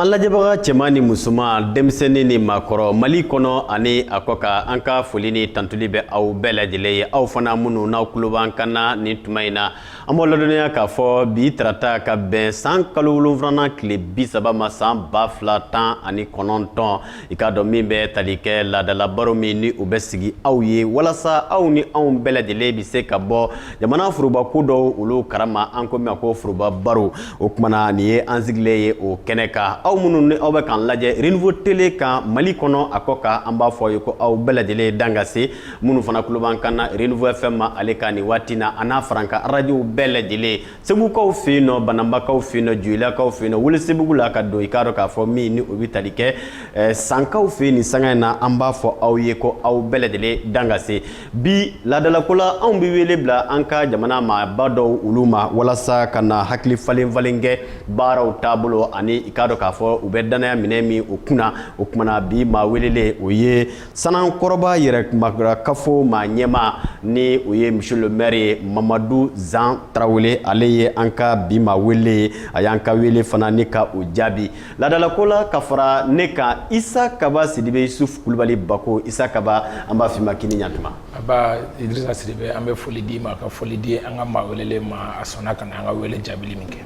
An lajɛbaga cɛman ni musoman denmisɛnnin ni maakɔrɔ mali kɔnɔ ani a kɔ kan an ka foli ni tantuli bɛ aw bɛɛ lajɛlen ye aw fana minnu n'aw tulo b'an kan na nin tuma in na an b'aw ladɔnniya k'a fɔ bi tarata ka bɛn san kalo wolonfilanan tile bi saba ma san ba fila tan ani kɔnɔntɔn i k'a dɔn min bɛ tali kɛ laadalabaro min ni o bɛ sigi aw ye walasa aw ni anw bɛɛ lajɛlen bɛ se ka bɔ jamana forobako dɔw olu kalama an ko min ko foroba baro o tuma na nin ye an sigilen ye o kɛnɛ kan aw minnu ni aw bɛ k'an lajɛ renouveau tele kan mali kɔnɔ a kɔ kan an b'a fɔ aw ye ko aw bɛɛ lajɛlen dan ka se minnu fana tulo b'an kan na renouveau fm ma ale kan nin waati na a n'a farankan arajow bɛɛ lajɛlen segukaw fɛ yen nɔ bananbakaw fɛ yen nɔ joyilakaw fɛ yen nɔ welesebugu la ka don i k'a dɔn k'a fɔ min ni o bɛ tali kɛ eh, sankaw fɛ yen nin sanga in na an b'a fɔ aw ye ko aw bɛɛ lajɛlen dan ka se bi laadalako la anw bɛ wele bila an ka jamana maaba dɔw olu ma walasa ka na hakili falen falen kɛ baaraw taabolo ani i k'a dɔn k'a fɔ u bɛ dannaya minɛ min o kunna o kumana bi maa welelen o ye Sanankɔrɔba yɛrɛmarakafo maa ɲɛmaa ni o ye monsieur le maire ye Mamadu Zan Tarawele ale ye an ka bi maa welelen ye a y'an ka wele fana ni ka o jaabi laadalako la ka fara ne kan Isa Kaba Sidibe Yusuf Kulubali Bako Isa Kaba an b'a f'i ma k'i ni ɲantuma a baa Idirisa Sidibe an bɛ foli d'i ma ka foli di an ka maa welelen ma a sɔnna ka na an ka wele jaabili min kɛ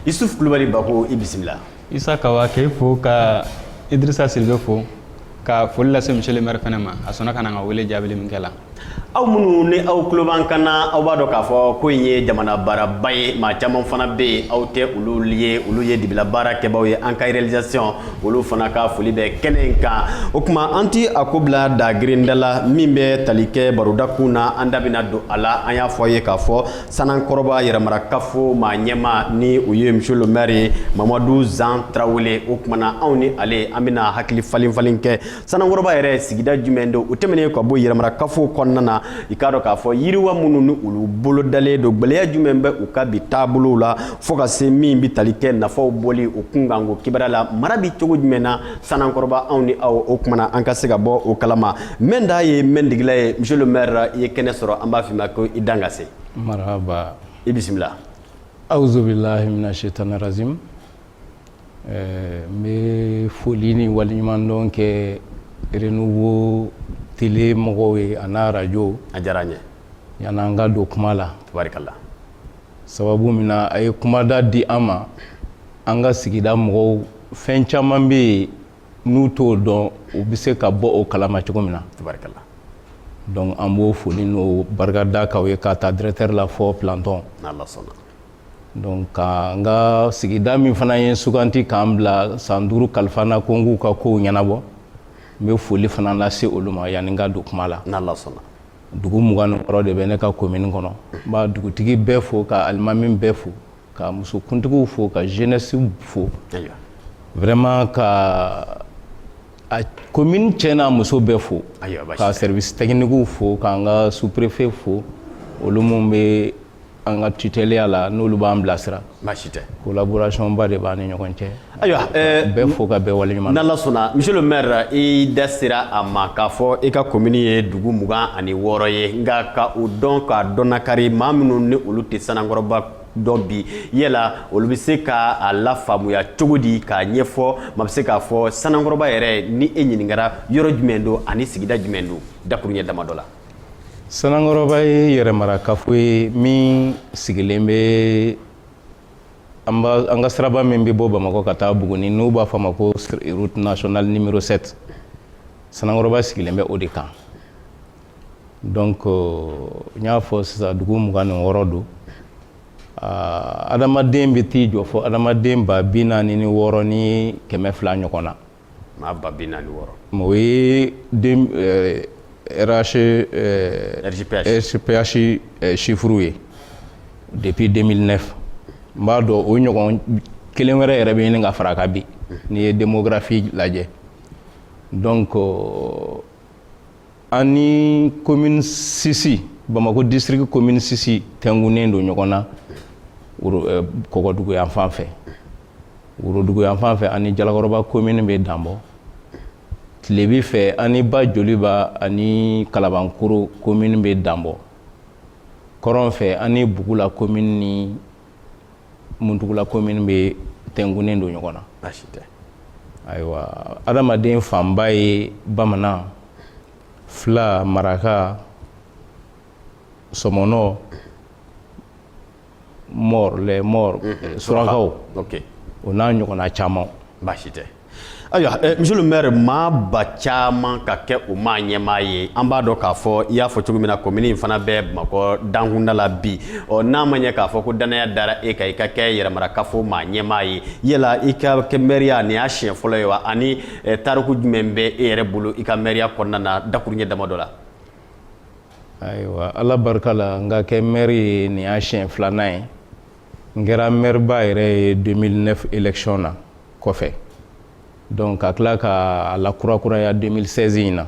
Yusuf Kulubali Bako i bisimila isa kaba k'e fo ka idirisa sidibe fo ka foli lase monsieur le maire fana ma a sɔnna ka na an ka wele jaabili min kɛ la aw minnu ni aw tulo b'an kan na aw b'a dɔn k'a fɔ ko in ye jamana baaraba ye maa caman fana bɛ yen aw tɛ olu ye olu ye dibila baara kɛbaaw ye an ka réalisation olu fana ka foli bɛ kɛnɛ in kan o tuma an ti a ko bila da girindala min bɛ tali kɛ baro dakun na an da bɛna don a la an y'a fɔ a ye k'a fɔ sanankɔrɔba yɛrɛmarakafo maa ɲɛma ni o ye monsieur le maire ye mamadu zan tarawele o tuma na anw ni ale an bɛna hakili falen falen kɛ sanankɔrɔba yɛrɛ sigida jumɛn don o tɛmɛnen ka bɔ yɛrɛmarakafo kɔnɔna na i k'a dɔn k'a fɔ yiriwa minnu ni olu bolodalen don gɛlɛya jumɛn bɛ u ka bi taabolow la fo ka se min bɛ tali kɛ nafaw bɔli o kunkanko kibaru la mara bɛ cogo jumɛn na sanankɔrɔba anw ni aw o tuma na an ka se ka bɔ o kalama Mɛ da ye mɛ degela ye monsieur le maire i ye kɛnɛ sɔrɔ an b'a f'i ma ko i dan ka se marahaba i bisimila auzubilahi mina sayitani rajim n bɛ foli ni waliɲumandɔn kɛ renouveau tele mɔgɔw ye a n'a arajo a diyara n ye yan an ka don kuma la tabarikala sababu min na a ye kumada di an ma an ka sigida mɔgɔw fɛn caman bɛ yen n'u t'o dɔn u bɛ se ka bɔ o kalama cogo min na tabarikala donc an b'o foli n'o barika da k'aw ye k'a ta directeur la fɔ plantɔn n'ala sɔnna donc ka n ka sigida min fana ye suganti k'an bila san duuru kalifa na ko n k'u ka kow ɲɛnabɔ n bɛ foli fana lase olu ma yanni n ka don kuma la n'ala sɔnna dugu mugan ni wɔɔrɔ de bɛ ne ka komini kɔnɔ n b'a dugutigi bɛɛ fo ka alimami bɛɛ fo ka musokuntigiw fo ka jeunesse fo vraiment ka a komini cɛ n'a muso bɛɛ fo ka service techniquew fo k'an ka sous-préfet fo olu minnu bɛ an ka tutɛliya la n'olu b'an bilasira baasi tɛ collaborationba de b'an ni ɲɔgɔn cɛ ayiwa bɛɛ fo ka bɛɛ waleɲuman n'ala sɔnna monsieur le maire i da sera a ma k'a fɔ i ka komini ye dugu mugan ani wɔɔrɔ ye nka ka o dɔn k'a dɔnnakari maa minnu ni olu tɛ sanankɔrɔba dɔn bi yala olu bɛ se ka a lafaamuya cogo di k'a ɲɛfɔ maa bɛ se k'a fɔ sanankɔrɔba yɛrɛ ni e ɲininkara yɔrɔ jumɛn don ani sigida jumɛn don dakuruɲɛ damadɔ la Sanankɔrɔba ye yɛrɛmarakafo ye min sigilen bɛ an ka siraba min bɛ bɔ bamakɔ ka taa buguni n'u b'a fɔ a ma ko route nationale numéro sept sanankɔrɔba sigilen bɛ o de kan donc n y'a fɔ sisan dugu mugan ni wɔɔrɔ don adamaden bɛ t'i jɔ fɔ adamaden ba bi naani ni wɔɔrɔ ni kɛmɛ fila ɲɔgɔn na Maa ba bi naani ni wɔɔrɔ o ye RGPH chiffre ye depuis deux mille neuf n b'a dɔn o ɲɔgɔn kelen wɛrɛ yɛrɛ bɛ ɲini ka fara a kan bi n'i ye démographie lajɛ donc an ni komini sisi bamako district komini sisi tɛnkunnen don ɲɔgɔn na eh, kɔgɔdugu yan fan fɛ worodugu yan fan fɛ an ni jalakɔrɔba komini bɛ danbɔ tilebi fɛ an ni ba joliba ani kalabankoro komini bɛ danbɔ kɔrɔn fɛ an ni bugula komini ni muntugula komini bɛ tɛnkunnen don ɲɔgɔn na baasi tɛ ayiwa adamaden fanba ye bamanan fila maraka sɔmɔnɔ maure les maures surakaw o n'a ɲɔgɔnna caman baasi tɛ ayiwa eh, monsieur le maire maa ba caman ka kɛ u maa ɲɛmaa ye an b'a dɔn k'a fɔ i y'a fɔ cogo min na komini in fana bɛ bamakɔ dankunda la bi ɔ n'a ma ɲɛ k'a fɔ ko dannaya dara e kan i ka kɛ yɛrɛmarakafo maa ɲɛmaa ye yala i ka kɛ mɛri ye nin y'a siɲɛ fɔlɔ ye wa ani eh, tariku jumɛn bɛ e yɛrɛ bolo i ka mɛriya kɔnɔna na dakuruɲɛ damadɔ la ayiwa ala barika la n ka kɛ mɛri ye nin y'a siɲɛ filanan ye n kɛra mɛriba yɛrɛ ye 2009 election na kɔfɛ donc ka tila ka a lakurakuraya 2016 in na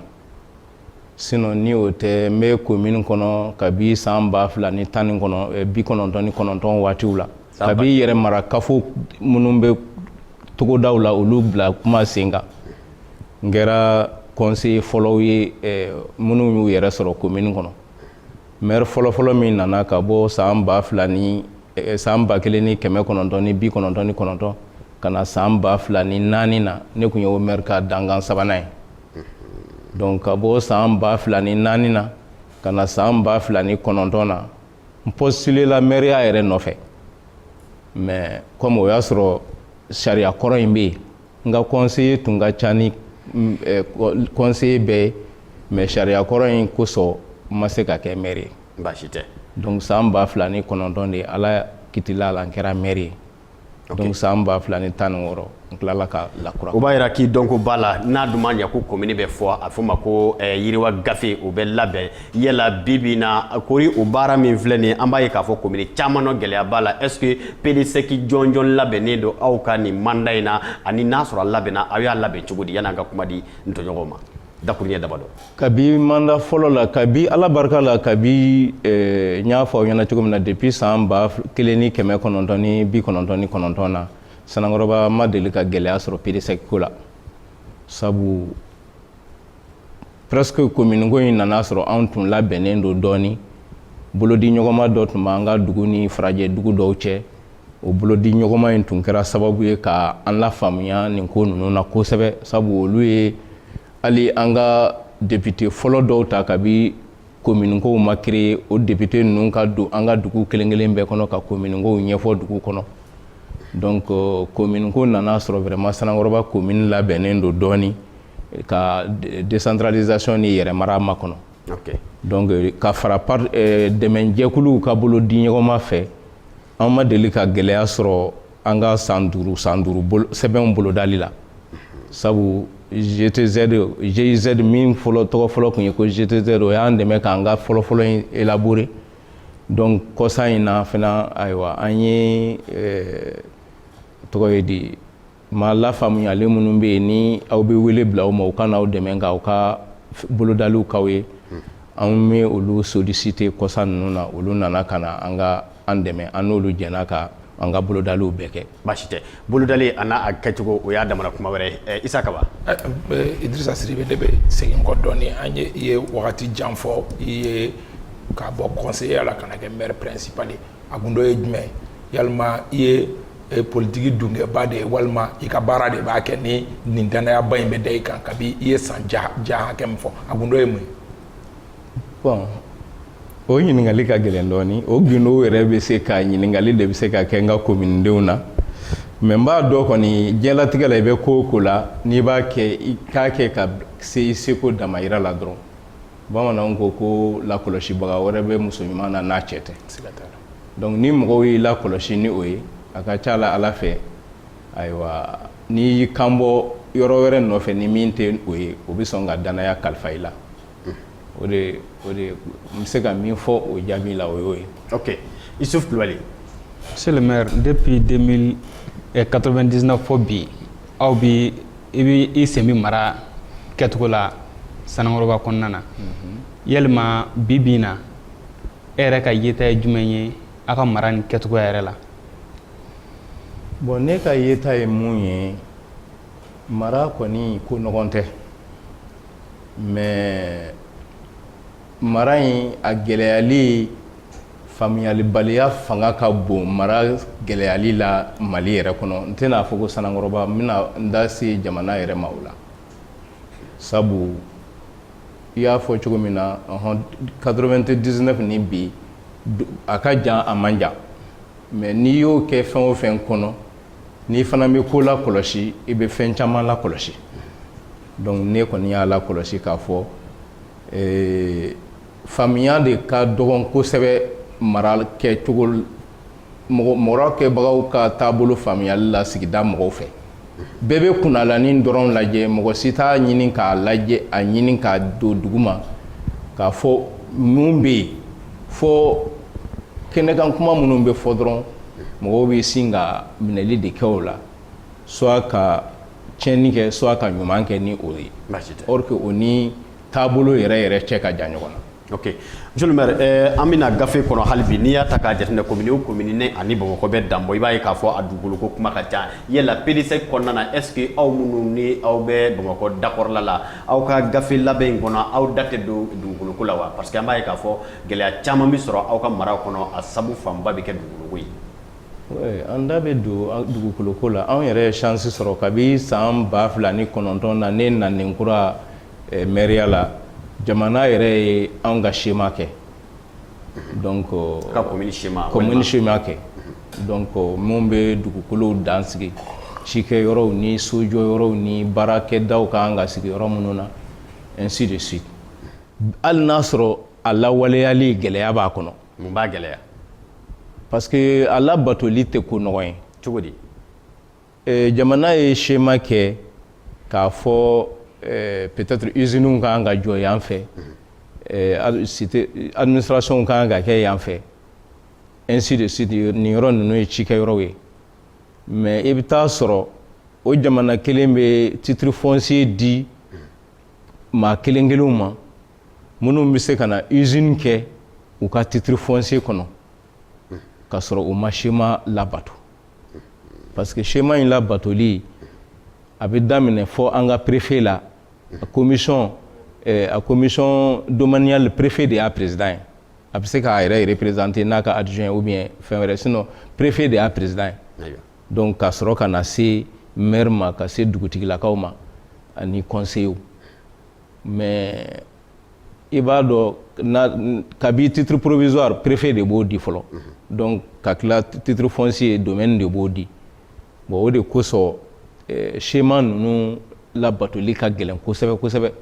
sinon ni o tɛ n bɛ commune kɔnɔ kabi san ba fila ni tan ni kɔnɔ eh, bi kɔnɔntɔn ni kɔnɔntɔn waatiw la kabi yɛrɛ mara kafo minnu bɛ togodaw la olu bila tuma sen kan n kɛra conseiller fɔlɔw ye eh, minnu y'u yɛrɛ sɔrɔ commune kɔnɔ mɛri fɔlɔfɔlɔ min nana ka bɔ san ba fila ni eh, san ba kelen ni kɛmɛ kɔnɔntɔn ni bi kɔnɔntɔn ni kɔnɔntɔn ka na san ba fila ni naani na ne tun ye o mɛri ka dankan sabanan ye donc ka bɔ san ba fila ni naani na ka na san ba fila ni kɔnɔntɔn na n postulela mɛriya yɛrɛ nɔfɛ mais comme o y'a sɔrɔ sariya kɔrɔ in bɛ yen n ka conseiller tun ka ca ni conseiller bɛɛ ye mais sariya kɔrɔ in kosɔn n ma se ka kɛ mɛri ye baasi tɛ donc san ba fila ni kɔnɔntɔn de ye ala kitila la n kɛra mɛri ye donc san ba fila ni tan ni wɔɔrɔ n tilala ka lakura o b'a jira k'i dɔnko b'a la n'a dun ma ɲɛ ko komini bɛ fɔ a fɔ ma ko yiriwa gafe o bɛ labɛn yala bi bi in na kori o baara min filɛ nin ye an b'a ye k'a fɔ komini caman nɔ gɛlɛya b'a la est ce que PDSEC jɔnjɔn labɛnnen don aw ka nin manda in na ani n'a sɔrɔ a labɛnna aw y'a labɛn cogo di yan'an ka kuma di n tɔɲɔgɔn ma dakuruɲɛ damadɔ kabi manda fɔlɔ la kabi ala barika la kabi eh, n y'a fɔ aw ɲɛna cogo min na depuis san ba kelen ni kɛmɛ kɔnɔntɔn ni bi kɔnɔntɔn ni kɔnɔntɔn na sanankɔrɔba ma deli ka gɛlɛya sɔrɔ PDSEC ko la sabu presque commune ko in nana sɔrɔ anw tun labɛnnen don dɔɔni bolodi ɲɔgɔnma dɔ tun b'an ka dugu ni farajɛ dugu dɔw cɛ o bolodi ɲɔgɔnma in tun kɛra sababu ye ka an lafaamuya nin ko ninnu na kosɛbɛ sabu olu ye hali an ka depite fɔlɔ dɔw ta kabi kominikow ma kreye o depite ninnu ka don an ka dugu kelen kelen bɛɛ kɔnɔ ka kominikow ɲɛfɔ dugu kɔnɔ donc kominiko nana sɔrɔ vraiment sanankɔrɔba komini labɛnnen don dɔɔni ka desantralizasiyɔn ni yɛrɛmara makɔnɔ donc ka fara eh, dɛmɛjɛkuluw ka bolo di ɲɔgɔnma fɛ an ma deli ka gɛlɛya sɔrɔ an ka san duuru san duuru sɛbɛnw bolodali la sabu GTZ GIZ min fɔlɔ tɔgɔ fɔlɔ tun ye ko GTZ o y'an dɛmɛ k'an ka fɔlɔfɔlɔ in élaborer donc kɔsa in na fana ayiwa an ye eh, tɔgɔ ye di Maa lafaamuyalen minnu bɛ yen ni aw bɛ wele bila u ma u ka na aw dɛmɛ ka aw ka bolodaliw k'aw ye anw bɛ olu solliciter kɔsa ninnu na olu nana ka na an ka an dɛmɛ an n'olu jɛnna ka an ka bolodaliw bɛɛ kɛ baasi tɛ bolodali a n'a kɛcogo o y'a damana kuma wɛrɛ Isa Kaba Idirisa Sidibe ne bɛ segin kɔ dɔɔnin an ye i ye wagati jan fɔ i ye ka bɔ conseiller la ka na kɛ maire principal ye a gundo ye jumɛn yalima i ye e politigi dunkɛba de ye walima i ka baara de b'a kɛ ni nin dannayaba in bɛ da i kan kabi i ye san jan hakɛ min fɔ a gundo ye mun ye bɔn o ɲininkali ka gɛlɛn dɔɔni o gundo yɛrɛ bɛ se ka ɲininkali de bɛ se ka kɛ n ka kominidenw na mɛ n b'a dɔn kɔni diɲɛlatigɛ la i bɛ ko o ko la n'i b'a kɛ i k'a kɛ ka se i seko damayira la dɔrɔn bamananw ko ko lakɔlɔsibaga wɛrɛ bɛ muso ɲuman na n'a cɛ tɛ donc ni mɔgɔw y'i lakɔlɔsi ni o ye a ka ca la ala fɛ ayiwa n'i y'i kanbɔ yɔrɔ wɛrɛ nɔfɛ ni min tɛ o ye o bɛ sɔn ka danaya kalifa i la o de o de n bɛ se ka min fɔ o jaabi la o y'o ye ok Isuf Kulibali monsieur le maire depuis 1999 fɔ bi aw bɛ i bɛ i sen bɛ mara kɛcogo la Sanankɔrɔba kɔnɔna na yalima bi bi in na e yɛrɛ ka yeta ye jumɛn ye aw ka mara nin kɛcogoya yɛrɛ la bɔn ne ka yeta ye mun ye mara kɔni ko nɔgɔn tɛ mɛ mara in a gɛlɛyali faamuyalibaliya fanga ka bon mara gɛlɛyali la mali yɛrɛ kɔnɔ n tɛna a fɔ ko sanankɔrɔba n bɛna n da se jamana yɛrɛ ma o la sabu i y'a fɔ cogo min na ɔhɔn 99 ni bi a ka jan a man jan mɛ n'i y'o kɛ fɛn o fɛn kɔnɔ n'i fana bɛ ko lakɔlɔsi i bɛ fɛn caman lakɔlɔsi donc ne kɔni y'a lakɔlɔsi k'a fɔ ee Faamuya de ka dɔgɔn kosɛbɛ mara kɛcogo mara kɛbagaw ka taabolo faamuyali la sigida mɔgɔw fɛ bɛɛ bɛ kunnalanin dɔrɔn lajɛ mɔgɔ si t'a ɲini k'a lajɛ a ɲini k'a don duguma k'a fɔ mun bɛ yen fɔ kɛnɛkan kuma minnu bɛ fɔ dɔrɔn mɔgɔw bɛ sin ka minɛli de kɛ o la soit ka tiɲɛni kɛ soit ka ɲuman kɛ ni o ye or ni taabolo yɛrɛ yɛrɛ cɛ ka jan ɲɔgɔn na ok monsieur le maire eh, an bɛ na gafe kɔnɔ hali bi n'i y'a ta k'a jateminɛ komini o komini ni a ni bamakɔ bɛ dan bɔ i b'a ye k'a fɔ a dugukolo ko kuma ka ca yala pdsec kɔnɔna na est ce que aw minnu ni aw bɛ bamakɔ dakɔrɔla la aw ka gafe labɛn in kɔnɔ aw da tɛ don dugukolo ko la wa parce que an b'a ye k'a fɔ gɛlɛya caman bɛ sɔrɔ aw ka mara kɔnɔ a sabu fanba bɛ kɛ dugukolo ko ye an da bɛ don dugukolo ko la anw yɛrɛ ye chance sɔrɔ kabi san ba fila ni kɔnɔntɔn na ne nanen kura mairie la jamana yɛrɛ ye anw ka schéma kɛ donc ka commune schéma kɛ donc min bɛ dugukolow dan sigi cikɛ yɔrɔw ni sojɔ yɔrɔw ni baarakɛdaw ka kan ka sigi yɔrɔ minnu na ainsi de suite hali n'a sɔrɔ a lawaleyali gɛlɛya b'a kɔnɔ mun b'a gɛlɛya parce que a labatoli tɛ ko nɔgɔ ye cogo di Eh, jamana ye schéma kɛ k'a fɔ eh, peut-être usines ka kan ka jɔ yan fɛ eh, administration ka kan ka kɛ yan fɛ ainsi de suite nin yɔrɔ ninnu ye cikɛ yɔrɔw ye mais i bɛ taa sɔrɔ o jamana kelen bɛ titre foncier di maa kelen kelenw ma minnu bɛ se ka na usine kɛ u ka titre foncier kɔnɔ ka sɔrɔ u ma schéma labato parce que schéma in labatoli a bɛ daminɛ fɔ an ka préfet la a commission eh, a commission domaniale préfet de y'a président ye a bɛ se k'a yɛrɛ représenter n'a ka adjoint ou bien fɛn wɛrɛ sinon préfet de y'a président ye donc ka sɔrɔ ka na se maire ma ka se dugutigilakaw ma ani conseillers mais i b'a dɔn kabi titre provisoire préfet de b'o di fɔlɔ mhm. donc ka tila titre foncier domaine de b'o di bon o de kosɔn eh, schéma ninnu labatoli ka gɛlɛn kosɛbɛ kosɛbɛ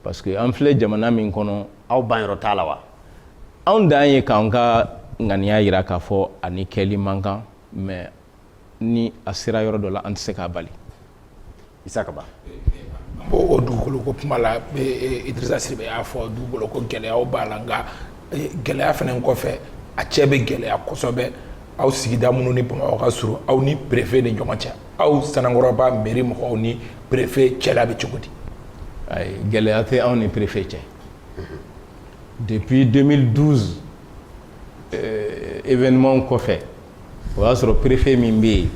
parce que an filɛ jamana min kɔnɔ aw ban yɔrɔ t'a la wa anw dan ye k'an ka ŋaniya yira k'a fɔ a nin kɛli man kan mais ni a sera yɔrɔ dɔ la an tɛ se k'a bali isa kaba an b'o dugukolo ko kuma la idrisa sidibe y'a fɔ dugukolo ko gɛlɛyaw b'a la nka gɛlɛya fana kɔfɛ a cɛ bɛ gɛlɛya kosɛbɛ aw sigida minnu ni bamakɔ ka surun aw ni préfet ni ɲɔgɔn cɛ aw sanankɔrɔba mairie mɔgɔw ni préfet cɛla bɛ cogo di ayi gɛlɛya tɛ anw ni préfet cɛ depuis 2012 événement kɔfɛ o y'a sɔrɔ perefe min bɛ yen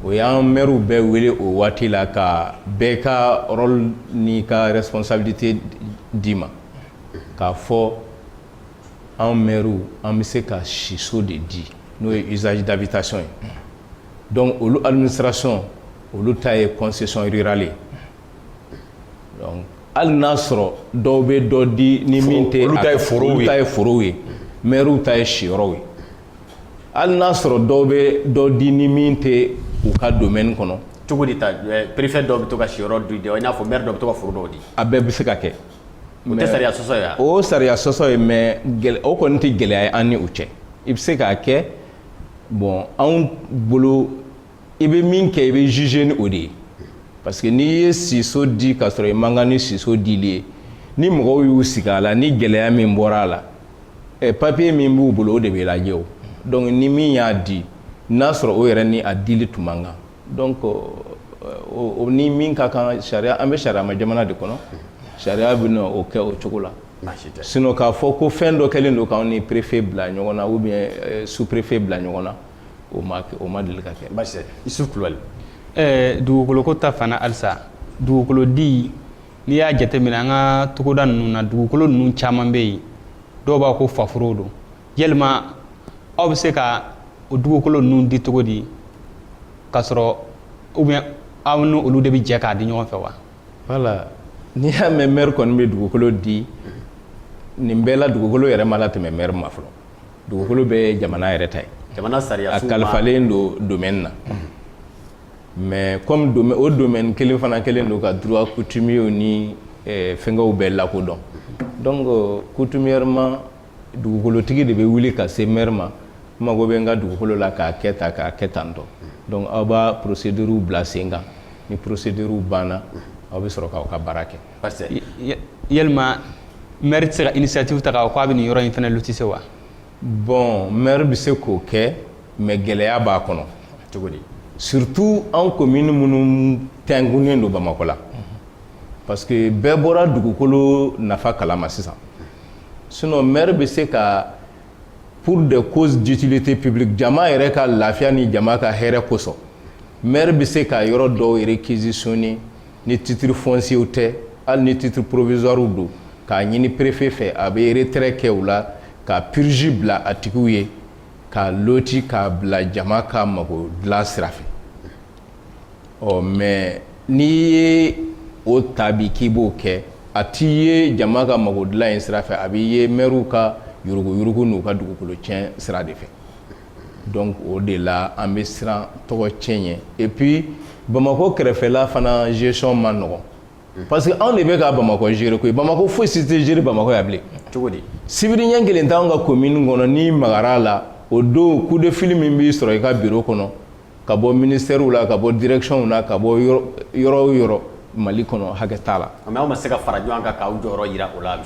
o y'an mɛriw bɛɛ wele o waati la ka bɛɛ ka rôle ni ka responsabilité d'i ma k'a fɔ anw mɛriw an bɛ se ka siso de di n'o ye usage d'habitation ye donc olu administration olu ta ye concession rurale ye hali n'a sɔrɔ dɔw bɛ dɔ di ni min tɛ olu ta ye forow ye mɛriw ta ye siyɔrɔw ye hali n'a sɔrɔ dɔw bɛ dɔ di ni min tɛ u ka domaine kɔnɔ cogo di ta eh, préfet dɔw bɛ to ka siyɔrɔ di i n'a fɔ maire dɔw bɛ to ka foro dɔw di a bɛɛ bɛ se ka kɛ o tɛ sariya sɔsɔ ye wa o sariya sɔsɔ ye mais o kɔni tɛ gɛlɛya ye an ni u cɛ i bɛ se k'a kɛ bon anw bolo i bɛ min kɛ i bɛ juger ni o de ye parce que n'i ye siso di k'a sɔrɔ i man kan ni siso dili ye ni mɔgɔw y'u sigi a la ni gɛlɛya min bɔra a la ɛ eh, papiye min b'u bolo o de bɛ lajɛ o donc ni min y'a di n'a sɔrɔ o yɛrɛ ni a dili tun man kan donc o ni min ka kan sariya an bɛ sariyama jamana de kɔnɔ sariya bɛna o kɛ o cogo la sinon k'a fɔ ko fɛn dɔ kɛlen don k'anw ni préfet bila ɲɔgɔn na ou bien sous préfet bila ɲɔgɔn na o ma kɛ o ma deli ka kɛ basi tɛ isufu kulubali ɛɛ dugukoloko ta fan na halisa dugukolodi n'i y'a jateminɛ an ka togoda ninnu na dugukolo ninnu caman bɛ yen dɔw b'a ko faforow don yalima aw bɛ se ka o dugukolo ninnu di cogo di k'a sɔrɔ ou bien aw ni olu de bɛ jɛ k'a di ɲɔgɔn fɛ wa voilà n'i y'a mɛn mɛri kɔni bɛ dugukolo di nin bɛɛ la dugukolo yɛrɛ ma latɛmɛ mɛri ma fɔlɔ dugukolo bɛɛ ye jamana yɛrɛ ta ye jamana sariya a kalifalen don domaine na mais comme o domaine kelen fana kɛlen don ka droit coutumier ni eh, fɛngɛw bɛɛ lakodɔn donc euh, coutumièrement dugukolotigi de bɛ wuli ka se maire ma n mago bɛ n ka dugukolo la k'a kɛ tan k'a kɛ tan tɔ donc aw b'a procédure bila sen kan ni procédure banna aw bɛ sɔrɔ k'aw ka baara kɛ parce que Ya- yalima maire tɛ se ka initiative ta k'a fɔ k'a bɛ nin yɔrɔ in fana lotise wa bon maire bɛ se k'o kɛ mais gɛlɛya b'a kɔnɔ cogo di surtout anw commune minnu tɛnkunnen don bamakɔ la parce que bɛɛ bɔra dugukolo nafa kalama sisan sinon maire bɛ se ka pour des causes d'utilité publique jama yɛrɛ ka lafiya ni jama ka hɛrɛ kosɔn maire bɛ se ka yɔrɔ dɔw réquisitionner ni titre foncier tɛ hali ni titre provisoire don k'a ɲini préfet fɛ a bɛ retrait kɛ u la ka purge bila a tigiw ye k'a loti k'a bila jama ka mago dilan sira fɛ ɔ mais n'i ye o ta bi k'i b'o kɛ a t'i ye jama ka mago dilan in sira fɛ a b'i ye mɛriw ka yurugu-yurugu n'u ka dugukolo tiɲɛ sira de fɛ donc o de la an bɛ siran tɔgɔ tiɲɛ ɲɛ et puis bamakɔ kɛrɛfɛla fana gestion man nɔgɔ parce que anw de bɛ ka bamakɔ gérer koyi bamakɔ foyi si tɛ gérer bamakɔ yan bilen cogo di sibiri ɲɛ kelen t'anw ka komini kɔnɔ n'i magara a la o don coup de fil min b'i sɔrɔ i ka biro kɔnɔ ka bɔ ministɛriw la ka bɔ dirɛkisiyɔnw na ka bɔ yɔrɔ o yɔrɔ mali kɔnɔ hakɛ t'a la nka aw ma se ka fara ɲɔgɔn kan k'aw jɔyɔrɔ jira o la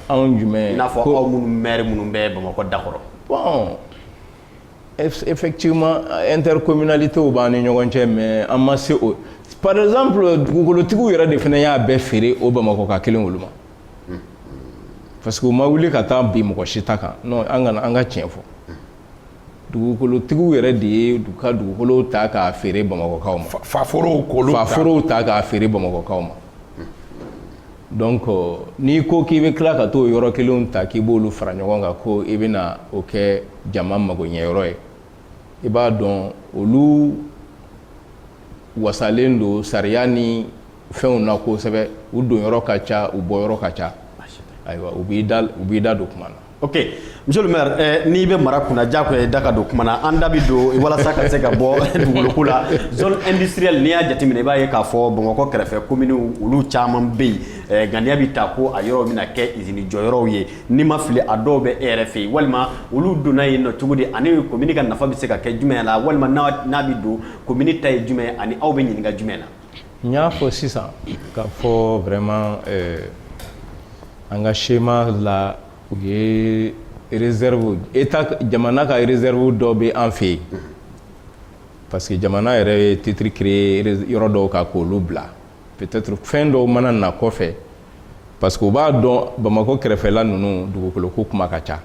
anw jumɛn i n'a fɔ aw minnu maire minnu bɛ bamakɔ da kɔrɔ bon effectivement intercommunalités b'an ni ɲɔgɔn cɛ mais an ma se o par exemple dugukolotigiw yɛrɛ de fana y'a bɛɛ feere o bamakɔka kelen olu ma parce que u ma wuli ka taa bin mɔgɔ si ta kan non an ka tiɲɛ fɔ dugukolotigiw yɛrɛ de ye du ka dugukolow ta k'a feere bamakɔkaw ma faforow k'olu ta faforow ta k'a feere bamakɔkaw ma donc euh, n'i ko k'i bɛ tila ka t'o yɔrɔ kelenw ta k'i b'olu fara ɲɔgɔn kan ko i bɛna o kɛ jama magoɲɛyɔrɔ ye i b'a dɔn olu wasalen don sariya ni fɛnw na kosɛbɛ u donyɔrɔ ka ca u bɔyɔrɔ ka ca ayiwa u b'i da u b'i da don kuma na ok monsieur le maire eh, n'i bɛ mara kunna diyagoya i da ka don kuma na an da bɛ don walasa ka se ka bɔ dugukolo la zone industrielle n'i y'a jateminɛ i b'a ye k'a fɔ bamakɔ kɛrɛfɛ kominiw olu caman bɛ yen eh, ŋaniya bɛ ta ko a yɔrɔw bɛna kɛ izini jɔyɔrɔw ye n'i ma fili a dɔw bɛ e yɛrɛ fɛ yen walima olu donna yen nɔ cogo di ani komini ka nafa bɛ se ka kɛ jumɛn la walima n'a bɛ don komini ta ye jumɛn ani aw bɛ ɲininka jumɛn na n y'a fɔ sisan k'a fɔ vraiment eh, an ka schéma la u ye réserve état jamana ka réserve dɔ bɛ an fɛ yen parce que jamana yɛrɛ ye titre créé yɔrɔ dɔw kan k'olu bila peut-être fɛn dɔw mana na kɔfɛ parce que u b'a dɔn bamakɔ kɛrɛfɛla ninnu dugukolo ko kuma ka ca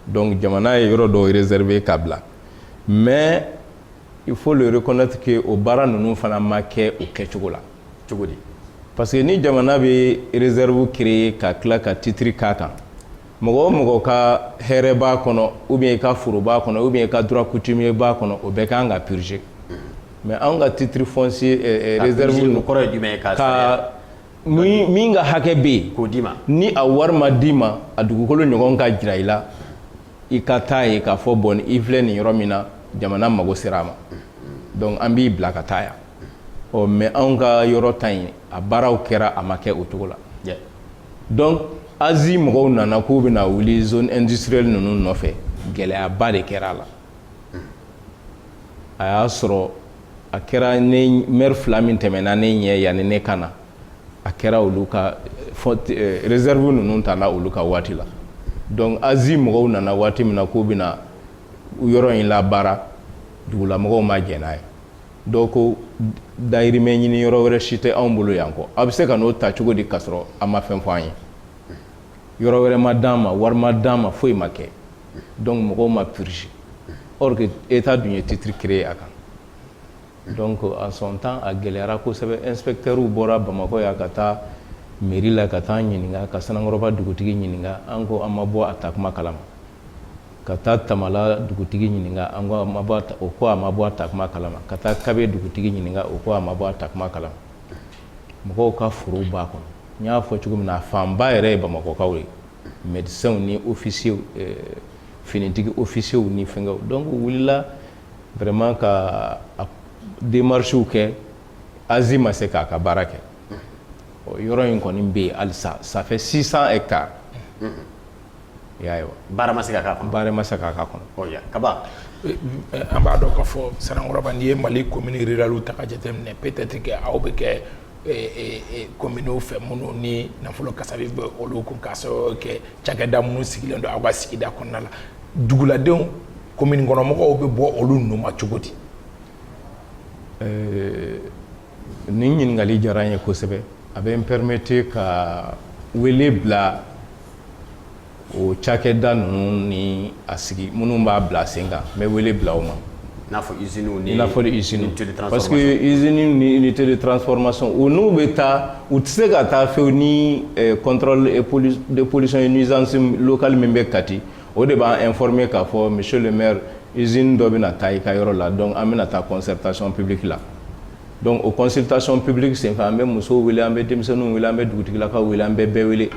donc jamana ye yɔrɔ dɔw réservé ka bila mais il faut le reconnaître que o baara ninnu fana ma kɛ o kɛcogo la cogo di parce que ni jamana bɛ réserve créer ka tila ka titre k'a kan mɔgɔ o mɔgɔ ka hɛrɛ b'a kɔnɔ ou bien i ka foro b'a kɔnɔ ou bien i ka droit coutumier b'a kɔnɔ o bɛɛ kan ka purger mais anw ka titre foncier eh, eh, réserve ka min min ka hakɛ bɛ yen k'o d'i ma ni a wari ma d'i ma a dugukolo ɲɔgɔn ka jira i la i ka taa ye k'a fɔ bon i filɛ nin yɔrɔ min na jamana mago sera a ma donc an b'i bila ka taa yan ɔ mais anw ka yɔrɔ ta yen a baaraw kɛra a ma kɛ o cogo la donc azi mɔgɔw nana k'u bɛna wuli zone industrielle ninnu nɔfɛ gɛlɛyaba de kɛra a la a y'a sɔrɔ a kɛra maire fila min tɛmɛna ne ɲɛ yanni ne ka na a kɛra olu ka réserve ninnu ta olu ka waati la donc AZI mɔgɔw nana waati min na k'u bɛna yɔrɔ in labaara dugulamɔgɔw ma jɛn n'a ye dɔw ko dayirimɛ ɲini yɔrɔ wɛrɛ si tɛ anw bolo yan kɔ a bɛ se ka n'o ta cogo di k'a sɔrɔ a ma fɛn fɔ an ye yɔrɔ wɛrɛ ma d'an ma wari ma d'an ma foyi ma kɛ donc mɔgɔw ma purger or que état dun ye titre créer a kan Donc en son temps a gɛlɛyara kosɛbɛ inspecteurs bɔra bamakɔ yan ka taa mairie la ka taa ɲininka ka Sanankɔrɔba dugutigi ɲininka an ko an ma bɔ a ta kuma kalama ka taa tamala dugutigi ɲininka an o ko a ma bɔ a ta kuma kalama ka taa Kabe dugutigi ɲininka o ko a ma bɔ a ta kuma kalama mɔgɔw ka forow b'a kɔnɔ n y'a fɔ cogo min na a fanba yɛrɛ ye bamakɔkaw ye médecins ni officiers finitigi officiers ni fɛnw donc u wulila vraiment ka démarches kɛ AZI ma se k'a ka baara kɛ ɔ yɔrɔ in kɔni bɛ yen halisa ça fait 600 hectares i y'a ye wa baara ma se ka k'a kɔnɔ baara ma se ka k'a kɔnɔ ɔ ya Kaba an b'a dɔn k'a fɔ Sanankɔrɔba n'i ye Mali commune rurale ta k'a jateminɛ peut-être que aw bɛ kɛ communes fɛ minnu ni nafolo kasabi bɛ olu kun k'a sababu kɛ cakɛda minnu sigilen don aw ka sigida kɔnɔna la duguladenw commune kɔnɔmɔgɔw bɛ bɔ olu nun ma cogo di ɛɛ nin ɲininkali diyara n ye kosɛbɛ a bɛ n permettre ka wele bila o cakɛda ninnu ni a sigi minnu b'a bila sen kan n bɛ wele bila o ma n'a fɔ i parce que usines ni unité de transformation u n'u bɛ taa u tɛ se ka taa fewu ni contrôle de pollution et nuisance locale min bɛ kati o de b'an informer k'a fɔ monsieur le maire usine dɔ bɛna taa i ka yɔrɔ la donc an bɛna taa concertation publique la donc o consultation publique senfɛ an bɛ musow wele an bɛ denmisɛnninw wele an bɛ dugutigilakaw wele an bɛ bɛɛ wele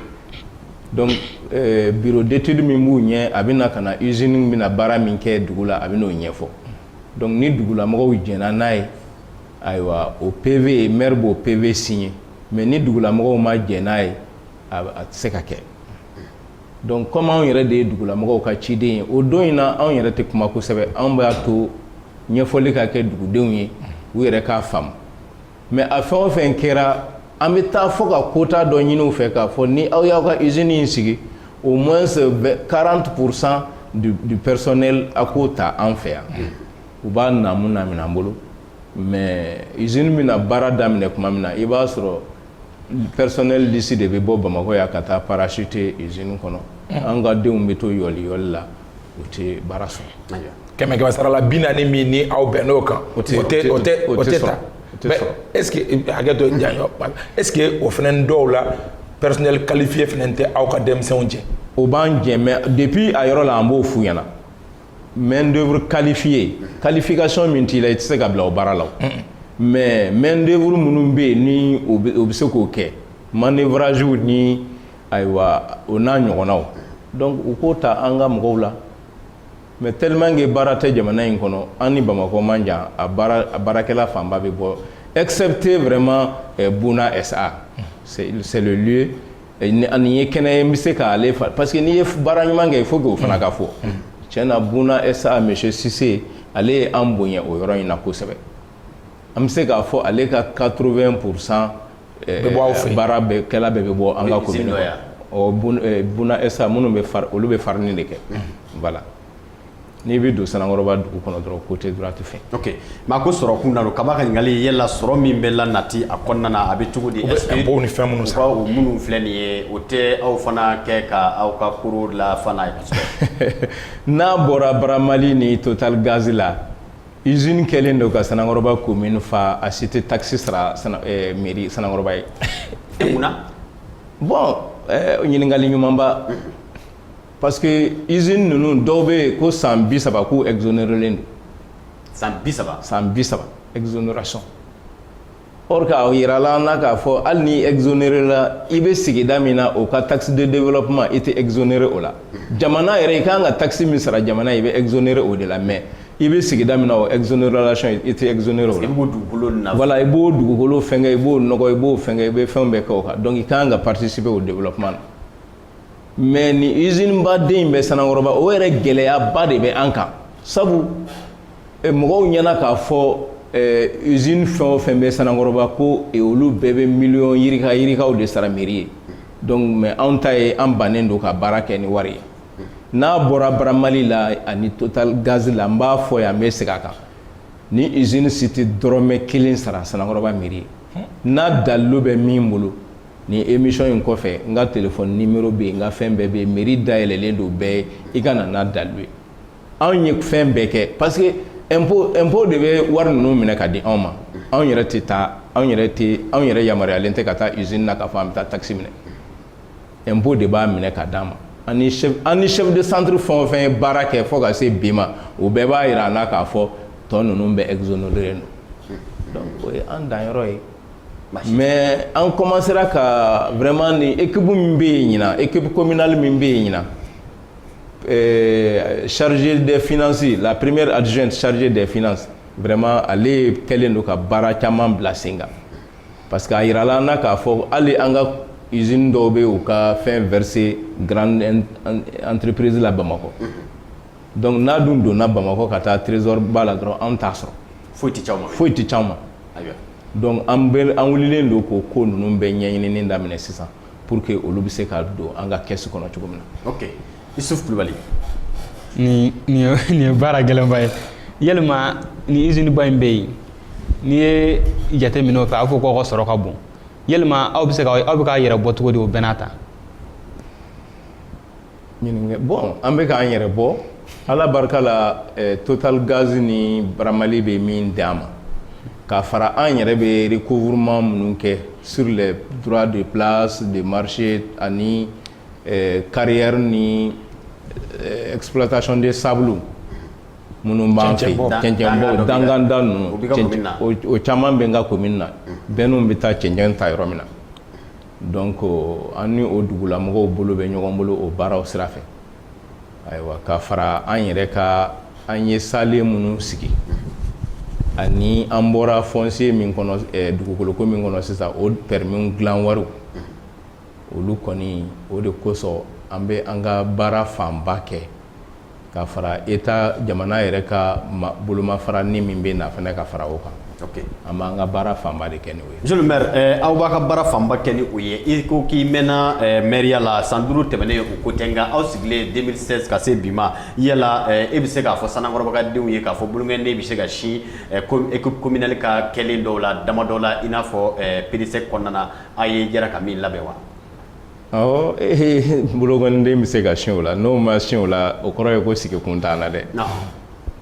donc euh, bureau d'étude min b'u ɲɛ a bɛna ka na usine bɛna baara min kɛ dugu la a bɛn'o ɲɛfɔ donc ni dugulamɔgɔw jɛnna n'a ye ayiwa o PV maire b'o PV signer mais ni dugulamɔgɔw ma jɛn n'a ye a a tɛ se ka kɛ. donc comme anw yɛrɛ de ye dugulamɔgɔw ka ciden ye o don in na anw yɛrɛ tɛ kuma kosɛbɛ anw b'a to ɲɛfɔli ka kɛ dugudenw ye u yɛrɛ k'a faamu mais a fɛn o fɛn kɛra an bɛ taa fɔ ka quota dɔ ɲini u fɛ k'a fɔ ni aw y'aw ka usine in sigi au moins 40 pour cent du, du personnel a k'o ta an fɛ yan u b'a naamu naamina an bolo mais usine bɛna baara daminɛ tuma min na i b'a sɔrɔ Personnel d'ici de bɛ bɔ bamakɔ yan ka taa parachuter usine kɔnɔ an ka denw bɛ to yɔli yɔli la u tɛ baara sɔrɔ kɛmɛsarala bi naani min ni aw bɛnn'o kan o tɛ e hakɛ to ja est-ce que o fana dɔw la personnel qualifié fana tɛ aw ka denmisɛnw jɛ o b'an jɛ mais depuis a yɔrɔ la an b'o f'u ɲɛna main d'œuvre qualifiée qualification min t'i la i tɛ se ka bila o baara la mais main d'œuvre minnu bɛ yen ni o bɛ se k'o kɛ manœuvrage ni ayiwa o n'a ɲɔgɔnnaw donc u k'o ta an ka mɔgɔw la mais tellement que baara tɛ jamana in kɔnɔ an ni bamakɔ man jan a baara a baarakɛla fanba bɛ bɔ excepté vraiment eh, Bouna SA c'est le lieu nin ye kɛnɛ ye n bɛ se k'ale fari parce que n'i ye baara ɲuman kɛ il faut que o fana ka fɔ cɛn na Bouna SA monsieur Cissé ale ye an bonya o yɔrɔ in na kosɛbɛ an bɛ se k'a fɔ ale ka quatre-vingts pour cent baarakɛla bɛɛ bɛ bɔ an ka commune kɔnɔ Bouna SA minnu bɛ olu bɛ farine de kɛ voilà n'i bɛ don Sanankɔrɔba dugu kɔnɔ dɔrɔn côté droite fɛ ok mais ko sɔrɔ kun na don kaba ka ɲininkali yala sɔrɔ min bɛ la nati a kɔnɔna a bɛ cogo di ni fɛn minnu sɔrɔ o minnu filɛ nin ye o tɛ aw fana kɛ ka aw ka koro la fana ye n'a bɔra Baramali ni Total Gaz la usine kɛlen don ka Sanankɔrɔba commune fa a si tɛ taxe sara mairie Sanankɔrɔba ye e mun na bon ɲininkali ɲumanba parce que usine ninnu dɔw bɛ yen ko san bi saba k'u exonérelen don. san bi saba. san bi saba exonération. or que a yirala an na k'a fɔ hali n'i exonéréla i bɛ sigida min na o ka taxe de développement i tɛ exonéré o la jamana yɛrɛ i kan ka taxe min sara jamana i bɛ exonéré o de la mais i bɛ sigida min na o exonération i tɛ exonéré o la. i b'o dugukolo na. voilà i b'o dugukolo fɛnkɛ i b'o nɔgɔ i b'o fɛnkɛ i bɛ fɛnw bɛɛ kɛ o kan donc i kan ka participer o développement na. mais ni usine ba den bɛ Sanankɔrɔba o yɛrɛ gɛlɛyaba de bɛ an kan sabu eh, mɔgɔw ɲɛna k'a fɔ eh, usine fɛn o fɛn bɛ Sanankɔrɔba ko eh, olu bɛɛ bɛ miliyɔn yirika yirikaw de sara meri ye donc mais anw ta ye an bannen don ka baara kɛ ni wari ye n'a bɔra Baramali la ani Total Gaz la n b'a fɔ yan n bɛ segin a kan ni usine si tɛ dɔrɔmɛ kelen sara Sanankɔrɔba meri ye n'a dalilu bɛ min bolo Nin émission in kɔfɛ n ka téléphone numéro bɛ yen n ka fɛn bɛɛ bɛ yen mairie dayɛlɛlen don bɛɛ ye i ka na n'a dalilu ye anw ye fɛn bɛɛ kɛ parce que impôt impôt de bɛ wari ninnu minɛ ka di anw ma anw yɛrɛ tɛ taa anw yɛrɛ tɛ anw yɛrɛ yamaruyalen tɛ ka taa usine na k'a fɔ an bɛ taa taxe minɛ impôt de b'a minɛ ka d'an ma an ni chef an ni chef de centre fɛn o fɛn ye baara kɛ fo ka se bi ma o bɛɛ b'a yira an na k'a fɔ tɔ ninnu bɛɛ exonéré don donc o ye an danyɔrɔ ye. mais an commencera ka vraiment ni équipe min bɛ yen ɲinan équipe communale min bɛ yen ɲinan euh, chargée des finances la première adjointe chargée des finances vraiment ale kɛlen don ka baara caman bila sen kan parce que a yirala an na k'a fɔ hali an ka usine dɔw bɛ u ka fɛn verser grande entreprise la Bamakɔ. Mm -hmm. dɔnku n'a dun donna bamakɔ ka taa trezoriba la dɔrɔn an t'a sɔrɔ foyi tɛ c'an ma foyi tɛ c'an ma dɔnku an wulilen don k'o ko ninnu bɛɛ ɲɛɲinini daminɛ sisan pour que olu bɛ se ka don an ka kɛsi kɔnɔ cogo min na Isuf Kulubali nin ye baara gɛlɛnba ye yalima ni iziniba in bɛ yen n'i ye jateminɛ o fɛ a fɔ k'aw ka sɔrɔ ka bon yalima aw aw bɛ k'a yɛrɛ bɔ cogo di o bɛɛ n'a ta bon an bɛ k'an yɛrɛ bɔ ala barika la eh, total gaz ni Bramali bɛ min d'an ma k'a fara an yɛrɛ bɛ recouvrement minnu kɛ sur les droits de place de marché ani eh, carrière ni eh, exploitation des sables minnu b'an fɛ cɛncɛnbɔ danganda ninnu o caman bɛ n ka commune na bɛnniw bɛ taa cɛncɛn ta yɔrɔ min na Donc an ni o dugulamɔgɔw bolo bɛ ɲɔgɔn bolo o baaraw sira fɛ ayiwa ka fara an yɛrɛ ka an ye saalen minnu sigi ani an bɔra foncier min kɔnɔ dugukoloko min kɔnɔ sisan o permis dilan wariw olu kɔni o de kosɔn an bɛ an ka baara fanba kɛ ka fara État jamana yɛrɛ ka bolomafara nin min bɛ na fana ka fara o kan an b'an ka baara fanba de kɛ n'o ye Monsieur le maire aw b'a ka baara fanba kɛ ni o ye i ko k'i mɛnna mɛriya la san duuru tɛmɛnen o ko tɛ nka aw sigilen deux mille seize ka se bi ma yala e bɛ se k'a fɔ Sanankɔrɔba ka denw ye k'a fɔ bolokɔniden bɛ se ka sin équipe communale ka kɛlen dɔw la dama dɔw la i n'a fɔ PDSEC kɔnɔna a ye jɛra ka min labɛn wa Awɔ ee bolokɔniden bɛ se ka sin o la n'o ma sin o la o kɔrɔ ye ko sigi kun t'an na dɛ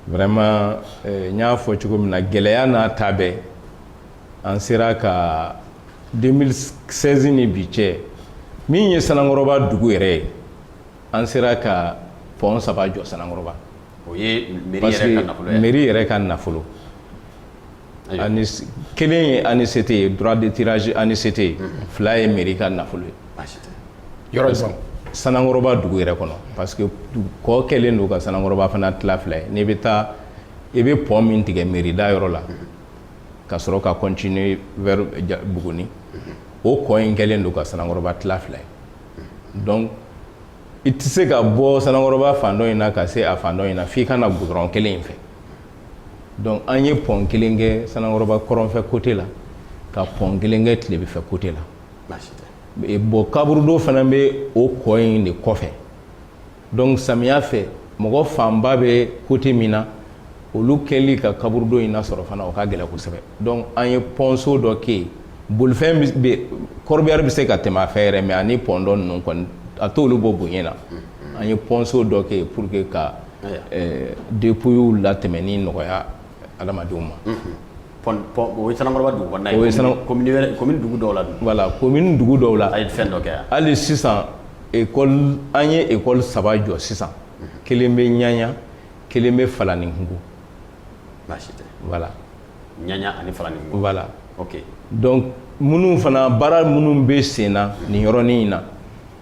vraiment n y'a fɔ cogo min na gɛlɛya n'a ta bɛɛ an sera ka deux mille seize ni bi cɛ min ye Sanankɔrɔba dugu yɛrɛ ye an sera ka pont saba jɔ Sanankɔrɔba o ye mairie yɛrɛ ka nafolo ani kelen ye ANICT ye droit de tirage ANICT ye fila ye mairie ka nafolo ye yɔrɔ jumɛn sanankɔrɔba dugu yɛrɛ kɔnɔ parce que kɔ kɛlen don ka sanankɔrɔba fana tila fila ye n'i bɛ taa i bɛ pont min tigɛ mairie da yɔrɔ la ka sɔrɔ ka continuer vers Buguni o kɔ in kɛlen don ka sanankɔrɔba tila fila ye donc i tɛ se ka bɔ sanankɔrɔba fan dɔ in na ka se a fan dɔ in na f'i ka na goudron kelen in fɛ dɔnku an ye pɔn kelen kɛ sanankɔrɔba kɔrɔnfɛ kote la ka pɔn kelen kɛ tilebifɛ kote la bɔn kaburudo fana bɛ o kɔ in de kɔfɛ dɔnku samiya fɛ mɔgɔ fanba bɛ kote min na olu kɛli ka kaburudo in nasɔrɔ fana o ka gɛlɛn kosɛbɛ dɔnku an ye pɔnso dɔ kɛ yen bolifɛn kɔrɔbiyari bɛ se ka tɛmɛ a fɛ yɛrɛ mɛ ani pɔn tɔ ninnu kɔni a t'olu bɔ bonya na an ye pɔnso dɔ kɛ yen pour que ka depuyiw latɛmɛni nɔgɔya adamadenw ma komini dugu dɔw la voilà komini dugu dɔw la a ye fɛn dɔ kɛ hali sisan an ye ekɔli saba jɔ sisan kelen bɛ ɲaɲa kelen bɛ falaninkugu baasi tɛ voilà ɲaɲa ani falaninkugu voilà ok donc minnu fana baara minnu bɛ sen na nin yɔrɔnin in na